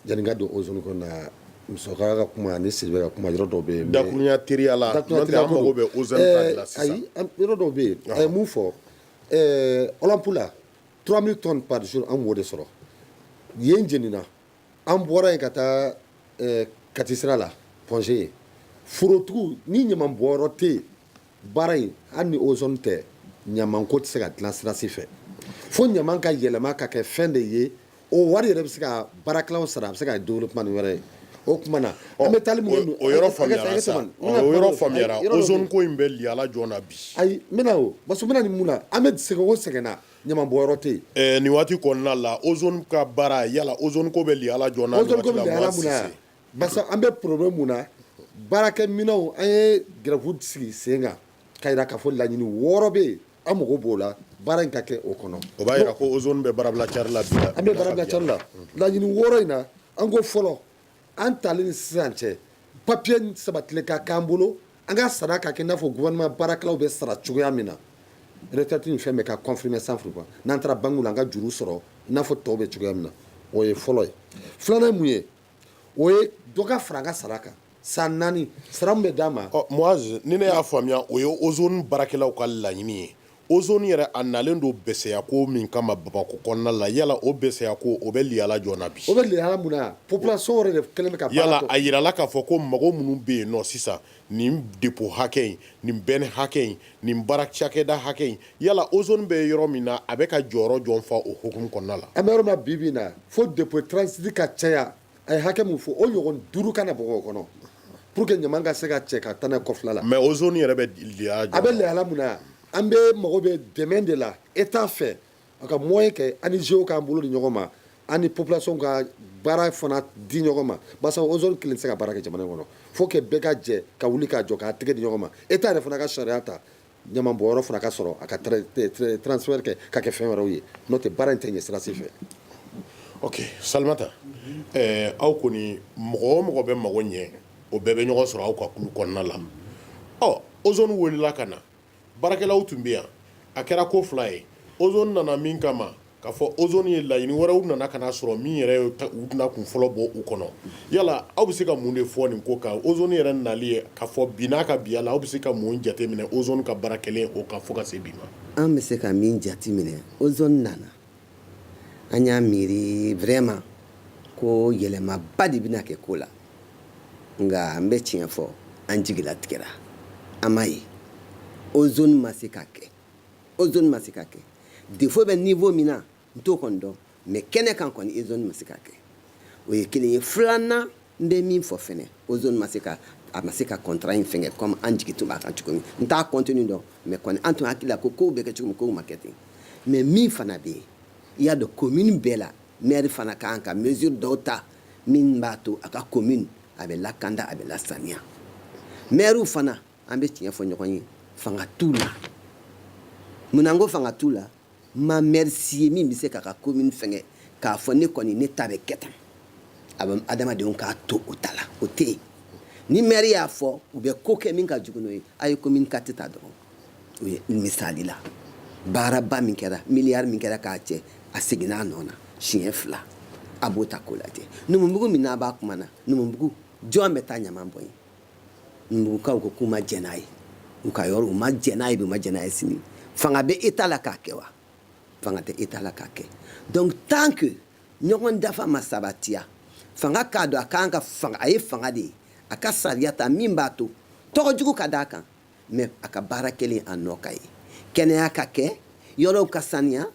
Yanni n ka don Ozone ko in na musokɔrɔba ka kuma ani Sidibe ka kuma yɔrɔ dɔw bɛ yen, dakurunya teriya la, dakurunya teriya ko, an mago bɛ Ozone ta de la sisan, ayi yɔrɔ dɔw bɛ yen a ye mun fɔ ɛɛ Olympe la 3000 tonnes par jour an tun b'o de sɔrɔ yen jenina an bɔra yen ka taa ɛɛ Kati sira la Pɔnze yen forotigiw ni ɲaman bɔnyɔrɔ tɛ yen baara in hali ni Ozone tɛ ɲamanko tɛ se ka dilan sira si fɛ fo ɲaman ka yɛlɛma ka kɛ fɛn de ye o wari yɛrɛ bɛ se ka baarakɛlaw sara a bɛ se ka développement wɛrɛ ye o tuma na an bɛ taa o yɔrɔ ko in bɛ gɛlɛya la jɔ na bi ayi o ba ni mun na an bɛ sɛgɛn o sɛgɛnna ɲama bɔyɔrɔ tɛ yen nin waati kɔnɔna la Ozone ka baara yala Ozone ko bɛ gɛlɛya la jɔ an bɛ problème mun na baarakɛminɛnw an ye grève de sigi sen kan k'a jira k'a fɔ laɲini wɔɔrɔ bɛ yen An mago b'o la baara in ka kɛ o kɔnɔ o b'a jira ko Ozone bɛ baarabila cari la bi an bɛ baarabila cari la laɲini wɔɔrɔ in na an ko fɔlɔ an talen ni sisan cɛ papiye sabatilen ka k'an bolo an ka sara ka kɛ i n'a fɔ gouvernement baarakɛlaw bɛ sara cogoya min na retraite ni fɛn bɛɛ ka confirmer san furuba n'an taara banque la an ka juru sɔrɔ i n'a fɔ tɔw bɛ cogoya min na o ye fɔlɔ ye filanan ye mun ye o ye dɔ ka fara sara kan san naani sara bɛ d'a ma Moise ni ne y'a faamuya o ye Ozone baarakɛlaw ka laɲini ye Ozone yɛrɛ a nalen don bɛsɛya ko min kama Bamako kɔnɔna la yala o bɛsɛya ko o bɛ gɛlɛya la jɔ na bi o bɛ gɛlɛya la mun na population de kɛlen yalala a jirala k'a fɔ ko mɔgɔ minnu bɛ yen nɔ sisan nin depo hakɛ in nin bɛn hakɛ in nin baara cakɛda hakɛ in yala Ozone bɛ yɔrɔ min na a bɛ ka jɔyɔrɔ jɔn fa o hukumu kɔnɔna la an bɛ yɔrɔ min na bi bi in na fo depo transit ka caya a ye hakɛ min fɔ o ɲɔgɔn duuru ka na bɔ o kɔnɔ pour que ɲama ka se ka cɛ ka taa n'a ye kɔfɛla la mais Ozone yɛrɛ bɛ a bɛ gɛlɛya la mun na an bɛɛ mago bɛ dɛmɛ de la état fɛ A ka moyen kɛ ani GIEw k'an bolo di ɲɔgɔn ma ani population ka baara fana di ɲɔgɔn ma basa Ozone kelen tɛ se ka baara kɛ jamana in kɔnɔ faut que bɛɛ ka jɛ ka wuli k'a jɔ k'a tɛgɛ di ɲɔgɔn ma état yɛrɛ fana ka sariya ta ɲama bɔyɔrɔ fana ka sɔrɔ a ka transformer ka kɛ fɛn wɛrɛw ye n'o tɛ baara in tɛ ɲɛ sira si fɛ Salimata aw kɔni mɔgɔ o mɔgɔ bɛ mago ɲɛ o bɛɛ bɛ ɲɔgɔn sɔrɔ aw ka kulu kɔnɔna la Ozone wulila ka na baarakɛlaw tun bɛ yan a kɛra ko fila ye Ozone nana min kama k'a fɔ Ozone ye laɲini wɛrɛw nana ka na sɔrɔ min yɛrɛ u tɛna kun fɔlɔ bɔ u kɔnɔ yala aw bɛ se ka mun de fɔ nin ko kan Ozone yɛrɛ nali ye k'a fɔ bi n'a ka bi yala aw bɛ se ka mun jateminɛ Ozone ka baara kɛlen o kan fo ka se bi ma an bɛ se ka min jate minɛ Ozone nana an y'a miiri vraiment ko yɛlɛmaba de bɛna kɛ ko la nka an bɛ tiɲɛ fɔ an jigila tigɛra an m'a ye ozone ma se ka kɛ ozone ma se ka kɛ défaut bɛ niveau min na n t'o kɔni dɔn mais kɛnɛ kan kɔni ozone ma se ka kɛ o ye kelen ye filanan n bɛ min fɔ fɛnɛ ozone ma se ka a ma se ka contrat in fɛngɛ comme an jigi tun b'a kan cogo min n t'a contenu dɔn mais kɔni an tun hakili la ko kow bɛ kɛ cogo min kow ma kɛ ten mais min fana bɛ yen i y'a dɔn commune bɛɛ la maire fana ka kan ka mesure dɔw ta min b'a to a ka commune a bɛ lakanda a bɛ lasaniya maire fana an bɛ tiɲɛ fɔ ɲɔgɔn ye fanga t'u la munna n ko fanga t'u la ma maire si ye min bɛ se k'a ka commune fɛngɛ k'a fɔ ne kɔni ne ta bɛ kɛ tan a bɛ adamadenw k'a to o ta la o tɛ yen ni maire y'a fɔ u bɛ ko kɛ min ka jugu n'o ye a ye commune quatre ta dɔrɔn o ye misali la baaraba min kɛra miliyari min kɛra k'a cɛ a seginna a nɔ na siɲɛ fila a b'o ta k'o lajɛ numubugu min n'a b'a kuma na numubugu jɔn bɛ taa ɲaman bɔn yen Numubugukaw ko k'u ma jɛn n'a ye, u ka yɔrɔ, u ma jɛn n'a ye bi, u ma jɛn n'a ye sini. Fanga bɛ Etat la k'a kɛ wa? Fanga tɛ Etat la k'a kɛ. Donc tant que ɲɔgɔn dafa ma sabatiya, fanga k'a dɔn a ka kan ka fanga, a ye fanga de ye, a ka sariya ta min b'a to tɔgɔ jugu ka d'a kan mais a ka baara kɛlen a nɔ ka ye. Kɛnɛya ka kɛ, yɔrɔw ka saniya,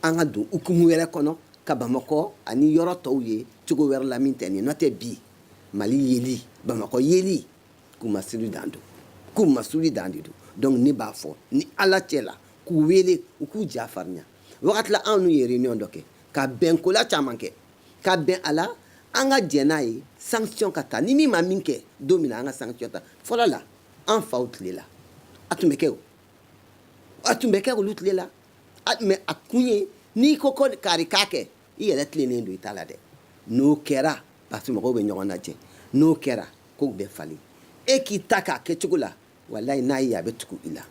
an ka don hukumu wɛrɛ kɔnɔ ka Bamakɔ ani yɔrɔ tɔw ye cogo wɛrɛ la min tɛ nin ye, n'o tɛ bi mali yeli bamakɔ yeli kunmasuli dan don kunmasuli dan de don donc ne b'a fɔ ni ala cɛ la k'u wele u k'u ja farinya wagati la anw n'u ye réunion dɔ kɛ ka bɛnkola caman kɛ ka bɛn a la an ka jɛn n'a ye sanction ka ta ni min ma min kɛ don min na an ka sanction ta fɔlɔ la an faw tile la a tun bɛ kɛ o a tun bɛ kɛ olu tile la mais a kun ye n'i ko ko kari k'a kɛ i yɛrɛ tilennen don i ta la dɛ n'o kɛra parce mɔgɔw bɛ ɲɔgɔn lajɛ n'o kɛra kow bɛ falen e k'i ta k'a kɛ cogo la walayi n'a ye a bɛ tugu i la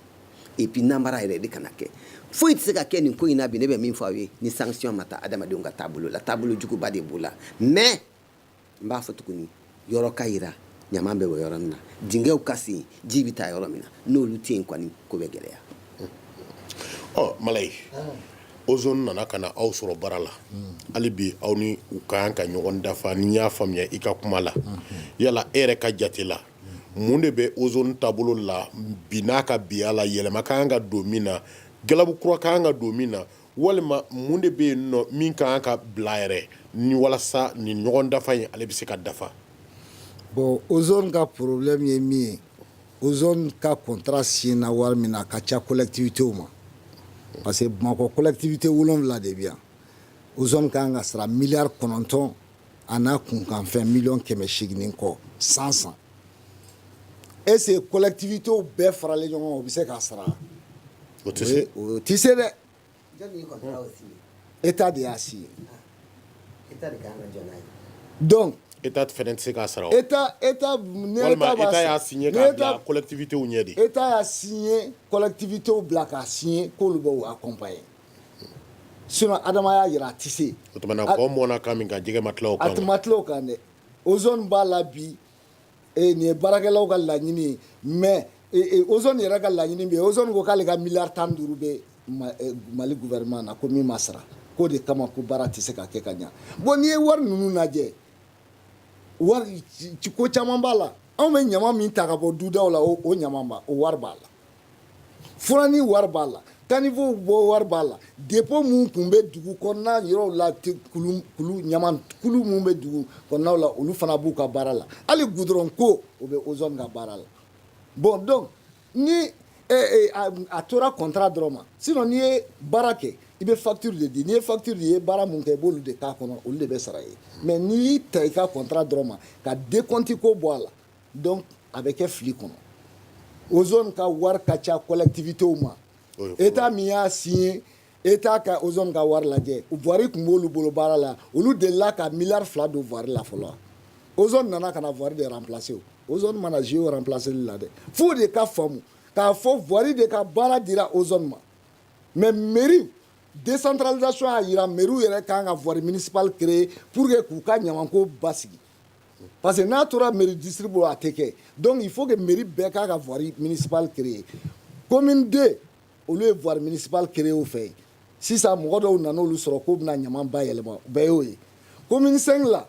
et puis namara yɛrɛ de kana kɛ foyi tɛ se ka kɛ nin ko in na bi ne bɛ min fɔ aw ye ni sanction ma ta adamadenw ka taabolo la taabolo juguba de b'o la mais n b'a fɔ tuguni yɔrɔ ka yira ɲama bɛ bɔn yɔrɔ min na dingɛw ka sen ji bɛ taa yɔrɔ min na n'olu tɛ yen kɔni ko bɛ gɛlɛya ɔ malayi ozone nana ka na aw sɔrɔ baara la hali bi aw ni u ka kan ka ɲɔgɔn dafa ni n y'a faamuya i ka kuma la yala e yɛrɛ ka jate la mun de bɛ ozone taabolo la bi n'a ka biya la yɛlɛma ka kan ka don min na galabu kura ka kan ka don min na walima mun de bɛ yen nɔ min ka kan ka bila yɛrɛ ni walasa ni ɲɔgɔn dafa in ale bɛ se ka dafa bon ozone ka problème ye min ye ozone ka contrat signéna wari min na a ka ca collectivitéw ma parce que Bamakɔ collectivité wolonwula de bɛ yan ozone ka kan ka sara miliyari kɔnɔntɔn A n'a kunkanfɛn mi kɛmɛ segin kɔ san san ese kolɛti to bɛɛ faralen ɲɔgɔn bɛ se k'a sara o tɛ se dɛ e t' de y'a si ye e tɛ se k'a sara e y'alɛti ɲɛ de e' y'alɛti bila k'a si ye k'olu bɛ a kɔnba ye sinon Adama y'a jira a tɛ se a ma tila o kan dɛ ozone b'a la bi nin ye baarakɛlaw ka laɲini mais ozone yɛrɛ ka laɲini bɛ yen ko k'ale ka miliyari tan ni duuru bɛ Mali gouvernement na ko min ma sara k'o de kama ko baara tɛ se ka kɛ ka ɲɛ bon n'i ye wari ninnu lajɛ wari ko caman b'a la anw bɛ ɲama min ta ka bɔ dudaw la o o ɲama o wari b'a la furani wari b'a la caniveau bɔ wari b'a la dépôt minnu tun bɛ dugu kɔnɔna yɔrɔw la kulu ɲama kulu minnu bɛ dugu kɔnɔnaw la olu fana b'u ka baara la hali goudron ko o bɛ ozone ka baara la bon donc ni eh, eh, a tora contrat dɔrɔn ma sinon n'i ye baara kɛ i bɛ facture de di n'i ye facture di i ye baara min kɛ i b'olu de k'a kɔnɔ olu de bɛ sara ye mais n'i y'i ta i ka contrat dɔrɔn ma ka décompte ko bɔ a la dɔn a bɛ kɛ fili kɔnɔ o ka wari ka ca kɔlɛtibitew ma e t' min y'a si ye e t' ka o ka wari lajɛ wari tun b'olu bolo baara la olu de la ka mi fila don wari la fɔlɔ o nana ka na wari de plase o mana z plaseli la dɛ fo de ka faamumu k'a fɔ wari de ka baara dira o ma mɛ mi desantralizsiɔn y'a jira miw yɛrɛ ka kan ka wari minisiba kere pur que k'u ka ɲama ko ba sigi Parce que n'a tora mairie district bolo a tɛ kɛ donc il faut que mairie bɛɛ k'a ka voirie municipale créer commune II olu ye voirie municipale créer u fɛ yen sisan mɔgɔ dɔw nana olu sɔrɔ k'u bɛna ɲaman bayɛlɛma u bɛɛ y'o ye commune V la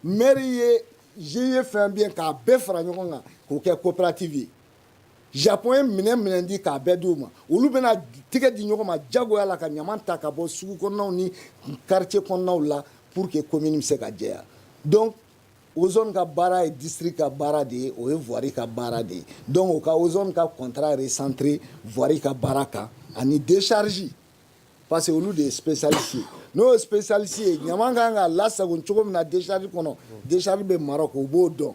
maire ye GIE fɛn bɛ yen k'a bɛɛ fara ɲɔgɔn kan k'o kɛ coopérative ye Japon ye minɛn minɛn di k'a bɛɛ di u ma olu bɛna tɛgɛ di ɲɔgɔn ma jagoya la ka ɲama ta ka bɔ sugu kɔnɔnaw ni quartier kɔnɔnaw la pour que commune bɛ se ka jɛya donc ozone ka baara ye district ka baara de ye o ye voirie ka baara de ye donc u ka ozone ka contrat recentrer voirie ka baara kan ani décharge parce que olu de ye spécialiste ye n'o ye spécialiste ye ɲama kan ka lasago cogo min na décharge kɔnɔ décharge bɛ Maroc u b'o dɔn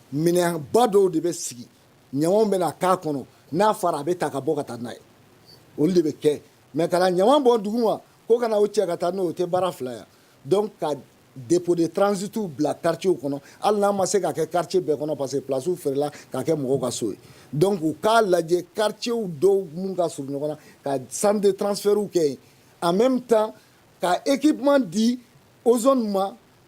minɛnba dɔw de bɛ sigi ɲamanw bɛ na k'a kɔnɔ n'a fara a bɛ ta ka bɔ ka taa n'a ye olu de bɛ kɛ mais ka na ɲaman bɔn duguma ko ka na o cɛ ka taa n'o o tɛ baara fila ye donc ka dépôt de transit bila quartier kɔnɔ hali n'a ma se ka kɛ quartier bɛɛ kɔnɔ parce que place feerela ka kɛ mɔgɔw ka so ye donc u k'a lajɛ quartier dɔw mun ka surun ɲɔgɔn na ka centre de transfert kɛ yen en même temps ka équipement di ozone ma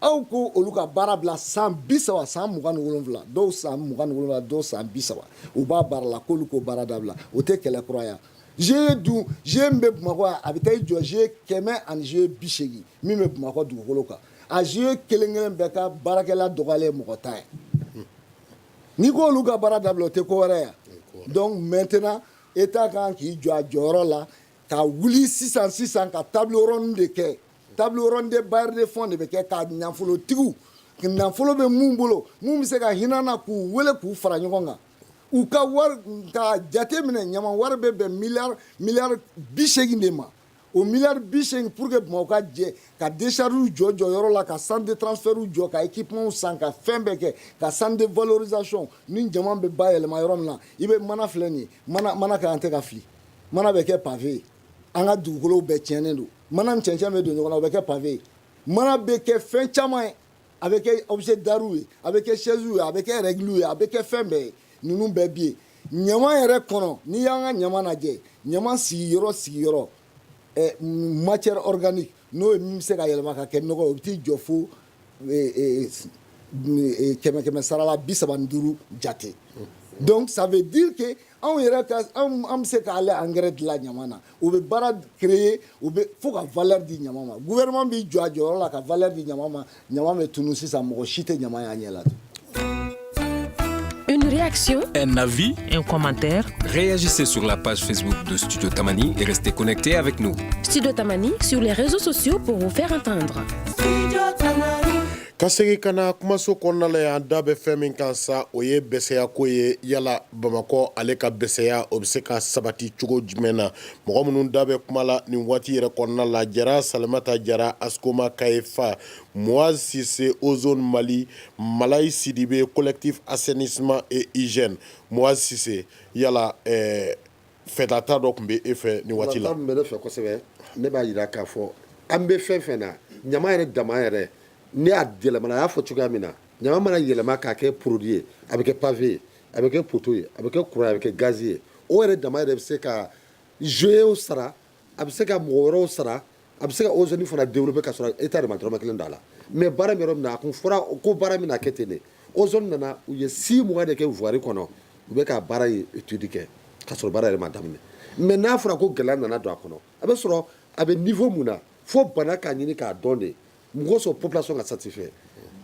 Aw ko olu ka baara bila san bi saba san mugan wolonwula dɔw san mugan wolonwula dɔw san bi saba u b'a baara la k'olu k'o baara dabila o tɛ kɛlɛ kura ye GIE dun GIE min bɛ bamakɔ a bɛ taa i jɔ GIE kɛmɛ ani GIE bi segin min bɛ bamakɔ dugukolo kan a GIE kelenkelen bɛɛ ka baarakɛla dɔgɔyalen mɔgɔ tan ye n'i ko olu ka baara dabila o tɛ ko wɛrɛ ye donc maintenant état kan k'i jɔ a jɔyɔrɔ la ka wuli sisan sisan ka table ronde de kɛ Table ronde de bailleurs de fonds de bɛ kɛ ka nafolotigiw nafolo bɛ minnu bolo minnu bɛ se ka hinɛ an na k'u weele k'u fara ɲɔgɔn kan u ka wari ka jate minɛ ɲama wari bɛ bɛn miliyari bisegin de ma o miliyari bisegin pour que bamakɔ ka jɛ ka déchargew jɔ jɔyɔrɔ la ka centre de transfertw jɔ ka équipement san ka fɛn bɛɛ kɛ ka centre de valorisation ni ɲama bɛ bayɛlɛma yɔrɔ min na i bɛ mana filɛ nin mana ka an tɛ ka fili mana bɛ kɛ pavé ye an ka dugukolo bɛɛ cɛnnen don mana ni cɛncɛn bɛ don ɲɔgɔn na o bɛ kɛ pavé ye mana bɛ kɛ fɛn caman ye a bɛ kɛ objet d'art ye a bɛ kɛ chaise ye a bɛ kɛ règle ye a bɛ kɛ fɛn bɛɛ ye ninnu bɛɛ bɛ ye ɲama yɛrɛ kɔnɔ n'i y'an ka ɲama lajɛ ɲama sigiyɔrɔ sigiyɔrɔ matière organique n'o ye min bɛ se ka yɛlɛma ka kɛ nɔgɔ o bɛ t'i jɔ fo kɛmɛ kɛmɛ sarala bi saba duuru jate donc ça veut dire que anw yɛrɛ an bɛ se k'ale engrais dilan ɲama na o bɛ baara créer o bɛ fo ka valeur di ɲama ma gouvernement b'i jɔ a jɔyɔrɔ la ka valeur di ɲama ma ɲama bɛ tunun sisan mɔgɔ si tɛ ɲama y'a ɲɛ la Une réaction Un avis Un commentaire Réagissez sur la page Facebook de Studio Tamani et restez connectés avec nous. Studio Tamani sur les réseaux sociaux pour vous faire entendre. Studio Tamani. ka segin ka na kumaso kɔnɔna la yan da bɛ fɛn min kan sa o ye bɛsɛya ko ye yala bamakɔ ale ka bɛsɛya o bɛ se ka sabati cogo jumɛn na mɔgɔ minnu da bɛ kuma la nin waati yɛrɛ kɔnɔna la jara salimata jara askoma kaye fa Moaz Sise Ozone Mali Malayi Sidibe collectif assainissement et hygiène Moaz Sise yala fɛtata dɔ tun bɛ e fɛ ni waati la bɛ fɛ kosɛbɛ ne b'a jira k'a fɔ an bɛ fɛn fɛn na ɲama yɛrɛ dama yɛrɛ ni a yɛlɛmana a y'a fɔ cogoya min na ɲama mana yɛlɛma k'a kɛ produit ye a bɛ kɛ pavé ye a bɛ kɛ poteau ye a bɛ kɛ courant a bɛ kɛ gaz ye o yɛrɛ dama yɛrɛ bɛ se ka GIEw sara a bɛ se ka mɔgɔ wɛrɛw sara a bɛ se ka ozone fana développer ka sɔrɔ état yɛrɛ ma dɔrɔmɛ kelen don a la mais baara min yɔrɔ min na a kun fɔra ko baara min na a kɛ ten de ozone nana u ye 6 mois de kɛ voirie kɔnɔ u bɛ ka baara ye étude kɛ ka sɔrɔ baara yɛrɛ ma daminɛ mais n'a fɔra ko gɛlɛya nana don a kɔnɔ a bɛ sɔrɔ a bɛ niveau min na fo bana k'a ɲini k'a dɔn de Mɔgɔ sɔrɔ population ka satisfait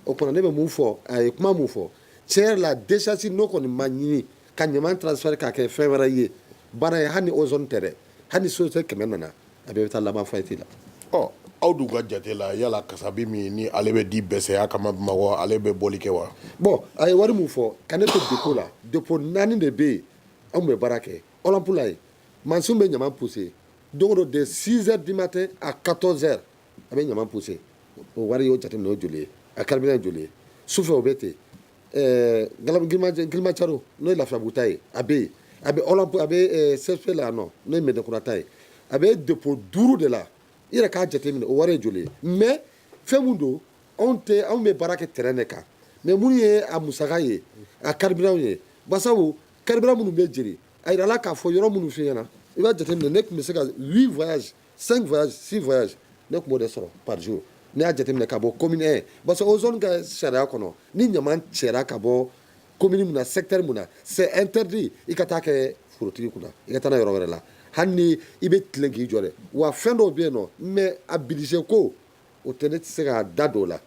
o kɔnɔ ne bɛ mun fɔ a ye kuma min fɔ tiɲɛ yɛrɛ la décharge n'o kɔni ma ɲini ka ɲama transformer k'a kɛ fɛn wɛrɛ ye baara ye hali ni ozone tɛ dɛ hali ni société kɛmɛ nana a bɛɛ bɛ taa laban faillite la ɔ aw dun ka jate la yala kasabi min ni ale bɛ di bɛsɛya kama ale bɛ bɔli kɛ wa bon a ye wari min fɔ ka ne to dépôt la dépôt naani de bɛ yen anw bɛ baara kɛ Olympe la yen mansin bɛ ɲama pousser don o don de 6 heures du matin à 14 heures a bɛ ɲama pousser o wari y'o jate minɛ o joli ye a carburant joli ye su fɛ o bɛ ten Kilimandjaro n'o ye Lafiyabugu ta ye a bɛ yen a bɛ a bɛ CFP la yan nɔ n'o ye Mɛdinakura ta ye a bɛ dépôt duuru de la i yɛrɛ k'a jate minɛ o wari ye joli ye mais fɛn min don anw tɛ anw bɛ baara kɛ terrain de kan mais minnu ye a musaka ye a carburant ye sabu carburant minnu bɛ jeni a jirala k'a fɔ yɔrɔ minnu firanna i b'a jate minɛ ne tun bɛ se ka 8 5 voyages 6 voyages ne tun b'o de sɔrɔ par jour n'i y'a jateminɛ ka bɔ commune 1 parce que ozone ka sariya kɔnɔ ni ɲaman cɛra ka bɔ commune mun na secteur mun na c'est interdit i ka taa kɛ forotigi kunna i ka taa n'a yɔrɔ wɛrɛ la hali ni i bɛ tilen k'i jɔ dɛ wa fɛn dɔw bɛ yen nɔ mais a budget ko o tɛ ne tɛ se ka da don o la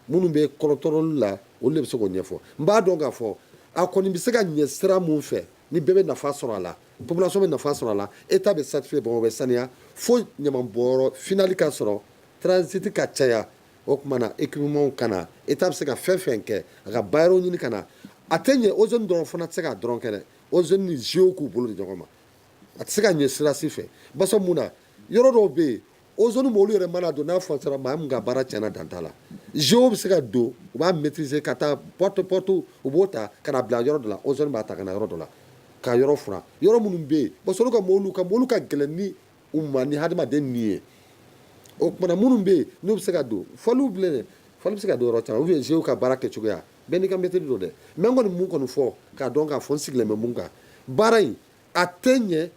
minnu bɛ contrôle la olu de bɛ se k'o ɲɛfɔ n b'a dɔn k'a fɔ a kɔni bɛ se ka ɲɛ sira mun fɛ ni bɛɛ bɛ nafa sɔrɔ a la population bɛ nafa sɔrɔ a la état bɛ satisfait Bamakɔ bɛ saniya fo ɲamanbɔnyɔrɔ finali ka sɔrɔ transit ka caya o tuma na équipementw ka na état bɛ se ka fɛn fɛn kɛ a ka bailleurs ɲini ka na a tɛ ɲɛ ozone dɔrɔn fana tɛ se k'a dɔrɔn kɛ dɛ ozone ni GIEw k'u bolo di ɲɔgɔn ma a tɛ se ka ɲɛ sira si fɛ barisa mun na yɔrɔ dɔw bɛ yen ozone mɔbili yɛrɛ mana don n'a fɔ sɔrɔ maa min ka baara tiɲɛna dan t'a la GIEw bɛ se ka don u b'a maîtriser ka taa porte à porte u b'o ta ka bila yɔrɔ dɔ la ozone b'a ta ka na yɔrɔ dɔ la ka yɔrɔ furan yɔrɔ minnu bɛ yen parce que olu ka mɔbili ka gɛlɛn ni u ma ni hadamaden min ye o tuma na minnu bɛ yen n'u bɛ se ka don fali bilen fali bɛ se ka don yɔrɔ caman ou bien GIEw ka baara kɛ cogoya bɛɛ n'i ka maîtrise don dɛ mais n kɔni mun kɔni fɔ k'a dɔn k'a fɔ n sigilen bɛ mun kan baara in a tɛ ɲɛ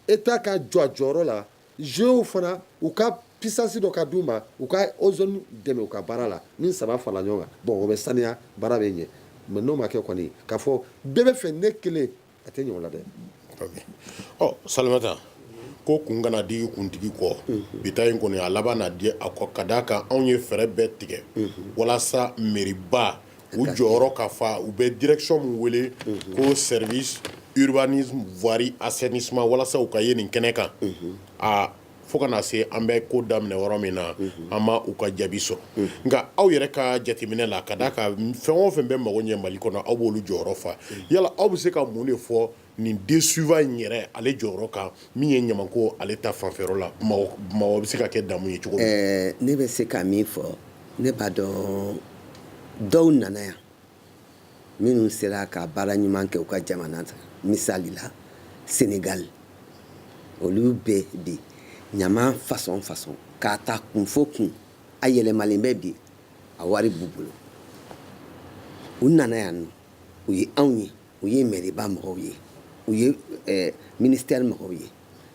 état ka jɔ a jɔyɔrɔ la GIEw fana u ka puissance dɔ ka d'u ma u ka ozone dɛmɛ u ka baara la ni saba fara ɲɔgɔn kan bon o bɛ saniya baara bɛ ɲɛ mais n'o ma kɛ kɔni k'a fɔ bɛɛ bɛ fɛ ne kelen a tɛ ɲɛ o la dɛ Salimata ko kun kana di kuntigi kɔ bi ta in kɔni a labanna di a kɔ ka d'a kan anw ye fɛɛrɛ bɛɛ tigɛ walasa mɛriba u jɔyɔrɔ ka fa u bɛ direction min wele ko service urbanisme voirie assainissement walasa u ka ye nin kɛnɛ kan aa fo ka na se an bɛ ko daminɛ yɔrɔ min na an ma u ka jaabi sɔrɔ nka aw yɛrɛ ka jateminɛ la ka d'a kan fɛn o fɛn bɛ mago ɲɛ mali kɔnɔ aw b'olu jɔyɔrɔ fa yala aw bɛ se ka mun de fɔ Nin DSUVA in yɛrɛ ale jɔyɔrɔ kan min ye ɲama ko ale ta fanfɛyɔrɔ la Bamakɔ bɛ se ka kɛ damu ye cogo ɛɛ ne bɛ se ka min fɔ ne b'a dɔn dɔw nana yan minnu sera ka baara ɲuman kɛ u ka jamana kan misali la Sénégal olu bɛ bi ɲama fasɔn fasɔn k'a ta kun fo kun a yɛlɛmalen bɛ bi a wari b'u bolo u nana yan u ye anw ye u ye mairie-ba mɔgɔw ye u ye eh, ministère mɔgɔw ye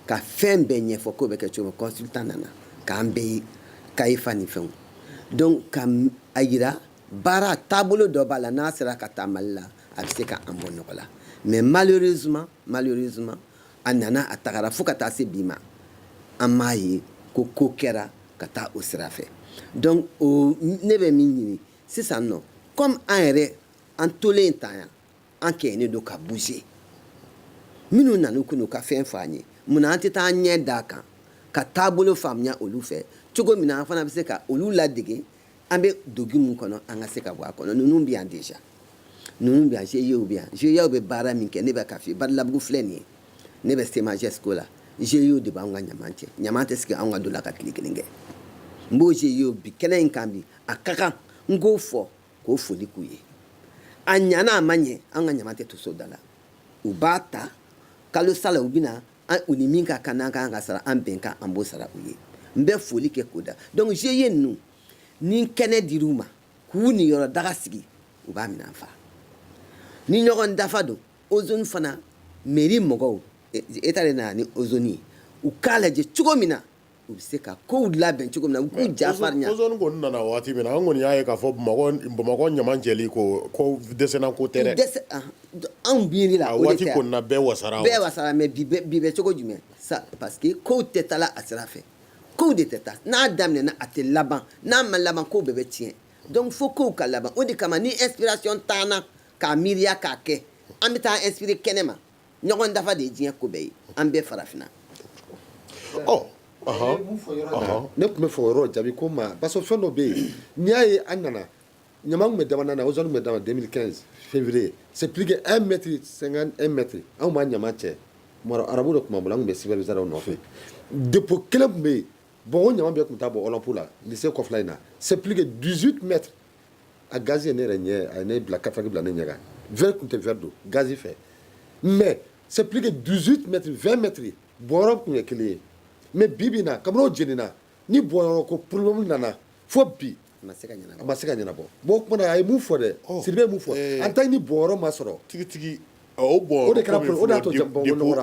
ka fɛn bɛɛ ɲɛfɔ k'o bɛ kɛ cogo consultant nana k'an bɛɛ ye kayifa ni fɛnw donc ka a yira baara taabolo dɔ b'a la n'a sera ka ta mali la a bɛ se ka an bɔ nɔgɔ la mais malheureusement malheureusement a nana a tagara fo ka taa se bi ma an m'a ye ko ko kɛra ka taa o sira fɛ donc o ne bɛ min ɲini sisan nɔ comme an yɛrɛ an tolen tan yan an kɛɲɛnen don ka bouger minnu nana k'u ka fɛn fɔ an ye munna an tɛ taa an ɲɛ d'a kan ka taabolo faamuya olu fɛ cogo min na an fana bɛ se ka olu ladege an bɛ dogi min kɔnɔ an ka se ka bɔ a kɔnɔ ninnu bɛ yan déjà ninnu bɛ yan GIEw bɛ yan GIEw bɛ baara min kɛ ne bɛ ka f'i ye Badalabugu filɛ nin ye ne bɛ Sema Gesco la GIEw de b'anw ka ɲaman cɛ ɲaman tɛ sigi anw ka da la ka tile kelen kɛ n b'o GIEw bi kɛnɛ in kan bi a ka kan n k'o fɔ k'o foli k'u ye a ɲana a ma ɲɛ an ka ɲama tɛ to so da la u b'a ta kalo sa la u bɛna an u ni min ka kan n'an kan ka sara an bɛnkan an b'o sara u ye n bɛ foli kɛ k'o da donc GIE ninnu ni kɛnɛ dir'u ma k'u niyɔrɔ daga sigi u b'a minɛ an fa ni ɲɔgɔn dafa don ozone fana mairie mɔgɔw état de nana ni ozone ye u k'a lajɛ cogo min na U bɛ se ka kow labɛn cogo min na u k'u ja farinya. Ozone kɔni nana waati min na an kɔni y'a ye k'a fɔ Bamakɔ ɲama cɛli ko ko dɛsɛnna ko tɛ dɛ. Dɛsɛ anhan anw miiri la o de tɛ a. A waati kɔni na bɛɛ wasara. Bɛɛ wasara mais bi bɛ bi bɛ cogo jumɛn sa parce que kow tɛ taala a sira fɛ kow de tɛ taa n'a daminɛna a tɛ laban n'a ma laban kow bɛɛ bɛ tiɲɛ donc fo kow ka laban o de kama ni inspiration t'an na k'a miiriya k'a kɛ an bɛ taa an inspirer kɛnɛma ɲɔgɔn dafa de ye diɲɛ ko bɛɛ ye an bɛ farafinna ɔ ne tun bɛ fɔ o yɔrɔ jaabi ko ma parce que fɛn dɔ bɛ yen n'i y'a ye an nana ɲama tun bɛ damana na ozone tun bɛ dama 2015 février c'est plus que 1 mètre 50 1 mètre anw b'a ɲama cɛ Maroc arabu de tun b'an bolo an tun bɛ superviseurw nɔfɛ dépôt kelen tun bɛ yen bon o ɲama bɛɛ tun bɛ taa bɔ Olympe la lycée kɔfɛla in na c'est plus que 18 mètres a gaz ye ne yɛrɛ ɲɛ a ye ne bila kataki bila ne ɲɛ kan verre tun tɛ verre don gaz fɛ mais c'est plus que 18 mètres 20 mètres bɔyɔrɔ tun ye kelen ye mais bi bi in na kabini o jenina ni bɔyɔrɔ ko problème nana fo bi a ma se ka ɲɛnabɔ bon o tuma na a ye mun fɔ dɛ Sidibe ye mun fɔ en tant que ni bɔyɔrɔ ma sɔrɔ tigitigi O bɔn o de kɛra o y'a to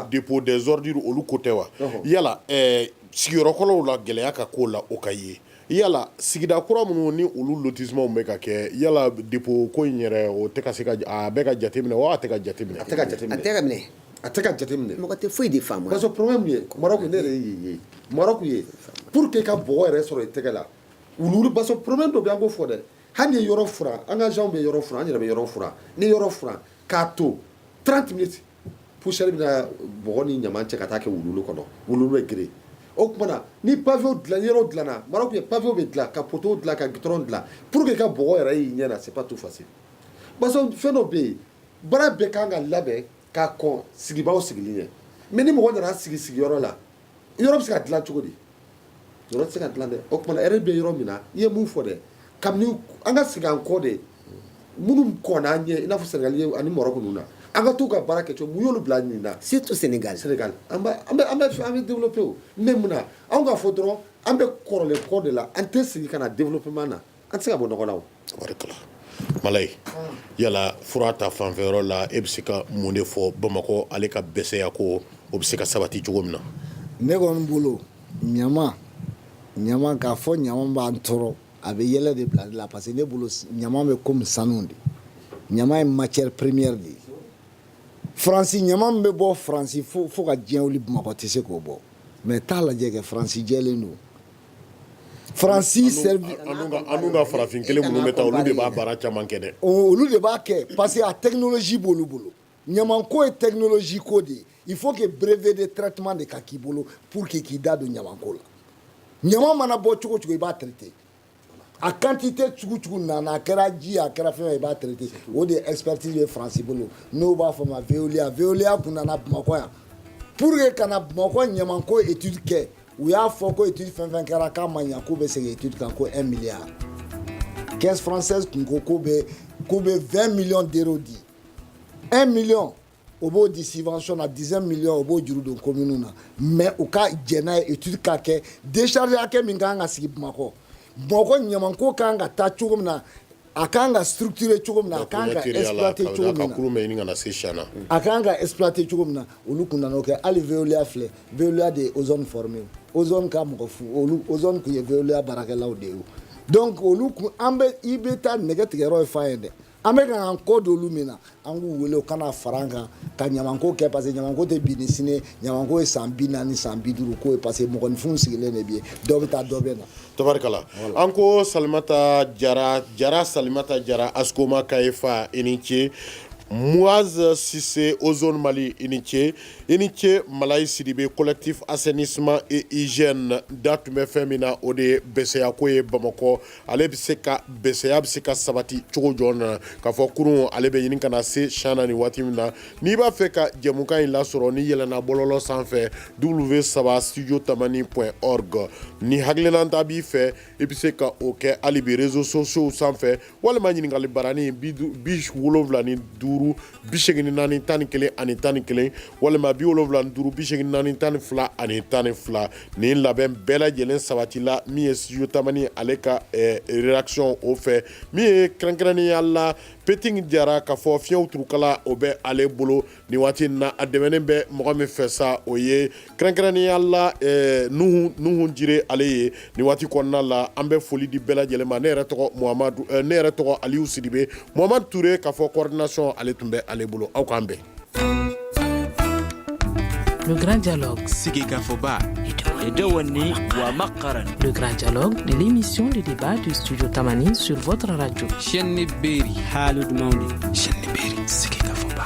dépôt des ordures olu ko tɛ wa yala sigiyɔrɔkɔrɔw la gɛlɛya ka k'o la o ka ye yala sigida kura minnu ni olu lotissement bɛ ka kɛ yala dépôt ko in yɛrɛ o a bɛ ka jate minɛ wa a tɛ ka jate minɛ a tɛ ka jate minɛ mɔgɔ tɛ foyi de faamu parce que problème ye Maroc ne yɛrɛ ye Maroc ye pour que ka bɔgɔ yɛrɛ sɔrɔ i tɛgɛ la wulu parce que problème dɔ bɛ an k'o fɔ dɛ hali ni yɔrɔ furan an ka agents bɛ yɔrɔ furan an yɛrɛ bɛ yɔrɔ furan ni yɔrɔ furan k'a to 30 minutes poussière bɛna bɔgɔ ni ɲaman cɛ ka taa kɛ wuluwulu kɔnɔ wuluwulu bɛ geren o tuma na ni pavew dilan yɔrɔ dilanna Maroc ye pavew bɛ dilan ka poteaux dilan ka goudron dilan pour que i ka bɔgɔ yɛrɛ y'i ɲɛ na c'est pas tout facile parce que fɛn dɔ bɛ yen baara bɛɛ kan ka labɛn ka kɔn sigibaaw sigili ɲɛ mais ni mɔgɔ nana sigi sigiyɔrɔ la yɔrɔ bɛ se ka dilan cogo di yɔrɔ tɛ se ka dilan dɛ o tuma yɛrɛ bɛ yɔrɔ min na i ye mun fɔ dɛ kabini an ka segin an kɔ de minnu kɔnna an ɲɛ i n'a fɔ Sénégal ani Maroc ninnu na an ka t'u ka baara kɛ cogo min y'olu bila nin na surtout Sénégal Sénégal an bɛ développer o mais mun na anw ka fɔ dɔrɔn an bɛ kɔrɔlen kɔ de la an tɛ sigi ka na développement na An tɛ se ka bɔ nɔgɔ la o, tabarikala, Malayi yala fura ta fanfɛ yɔrɔ la e bɛ se ka mun de fɔ Bamakɔ ale ka bɛsɛya ko o bɛ se ka sabati cogo min na, ne kɔni bolo ɲaman, ɲaman k'a fɔ ɲaman b'an tɔɔrɔ a bɛ yɛlɛ de bila ne la parce que ne bolo ɲaman bɛ komi sanu de, ɲaman ye matière première de ye, France ɲaman min bɛ bɔ France fo ka diɲɛ wuli Bamakɔ tɛ se k'o bɔ mais taa lajɛ kɛ France jɛlen don Fransi ka farafin kelen minnu bɛ taa olu de b'a baara caman kɛ dɛ olu de b'a kɛ parce que a technologie b'olu bolo ɲaman ko ye technologie ko de ye il faut brevet de traitement de ka k'i bolo pour que k'i da don ɲaman ko la ɲaman mana bɔ cogo cogo i b'a traiter a quantité cogo cogo na a kɛra ji a kɛra fɛn i b'a traiter o de expertise bɛ Fransi bolo n'o b'a fɔ ma Veolia Veolia tun nana bamakɔ yan pour que ka na bamakɔ ɲaman ko étude kɛ u y'a fɔ ko étude fɛn fɛn kɛra k'a ma ɲɛ k'u bɛ segin étude kan ko 1 milliard caisse française tun ko k'u bɛ k'u bɛ 20 millions d'euros di 1 million o b'o di subvention na 19 millions o b'o juru don commune na mais u ka jɛn n'a ye étude ka kɛ décharge hakɛ min ka kan ka sigi Bamakɔ Bamakɔ ɲamanko ka kan ka taa cogo min na a kan ka structurer cogo min na a kan ka exploiter cogo min na a kan ka exploiter cogo min na olu kun nana o kɛ hali Veolia filɛ Veolia de ye ozone former ozone ka mɔgɔ fɔlɔw ozone kun ye Veolia baarakɛlaw de ye donc olu kun an bɛ i bɛ taa nɛgɛ tigɛ yɔrɔ ye fan ye dɛ an bɛ ka an kɔ don olu mun na An k'u wele u ka na fara an kan ka ɲamanko kɛ parce que ɲamanko tɛ bi ni sini ko ye ɲamanko ye san 40 ni san 50 ko ye parce que mɔgɔninfinw sigilen de bɛ yen dɔ bɛ taa dɔ bɛ na tabarikala an ko Salimata Jara Jara Salimata Jara ASCOMA Kayefa i ni ce Muaz Sise Ozone Mali i ni ce i ni ce Malayi Sidibe collectif assainissement et hygiène da tun bɛ fɛn min na o de ye bɛsɛya ko ye Bamakɔ ale bɛ se ka bɛsɛya bɛ se ka sabati cogo jɔn na kafɔ kurun ale bɛ ɲini ka na se cɛn na nin waati min na n'i b'a fɛ ka jɛmukan in lasɔrɔ n'i yɛlɛnna bɔlɔlɔ sanfɛ w saba studio tamani point org ni hakilinata b'i fɛ i bɛ se ka o kɛ hali bi réseaux sociaux sanfɛ walima ɲininkali barani bi wolowula ni duuru bi segin ni naani tan ni kelen ani tan ni kelen walima bi wolowula ni duuru bi segin ni naani tan ni fila ani tan ni fila nin labɛn bɛɛ lajɛlen sabatila min ye studio tamani ale ka eh, rédaction o fɛ min ye kɛrɛnkɛrɛnnenya la peting jara kafɔ fiɲɛw turukala o bɛ ale bolo nin waati na a dɛmɛnen bɛ mɔgɔ min fɛ sa o ye kɛrɛnkɛrɛnnenya la nuhun jire ale ye nin waati kɔnɔna la an bɛ foli di bɛɛ lajɛlen ma ne yɛrɛ tɔgɔ Mohamadu ne yɛrɛ tɔgɔ Aliyu Sidibe Mohamadu Ture kafɔ coordination ale tun bɛ ale bolo aw k'an bɛn sigi kafɔba edewani wa makaran l'émission de débat du studio tamani sur votre radio senni beeri haaldu mawnde senni beeri sigi kafɔba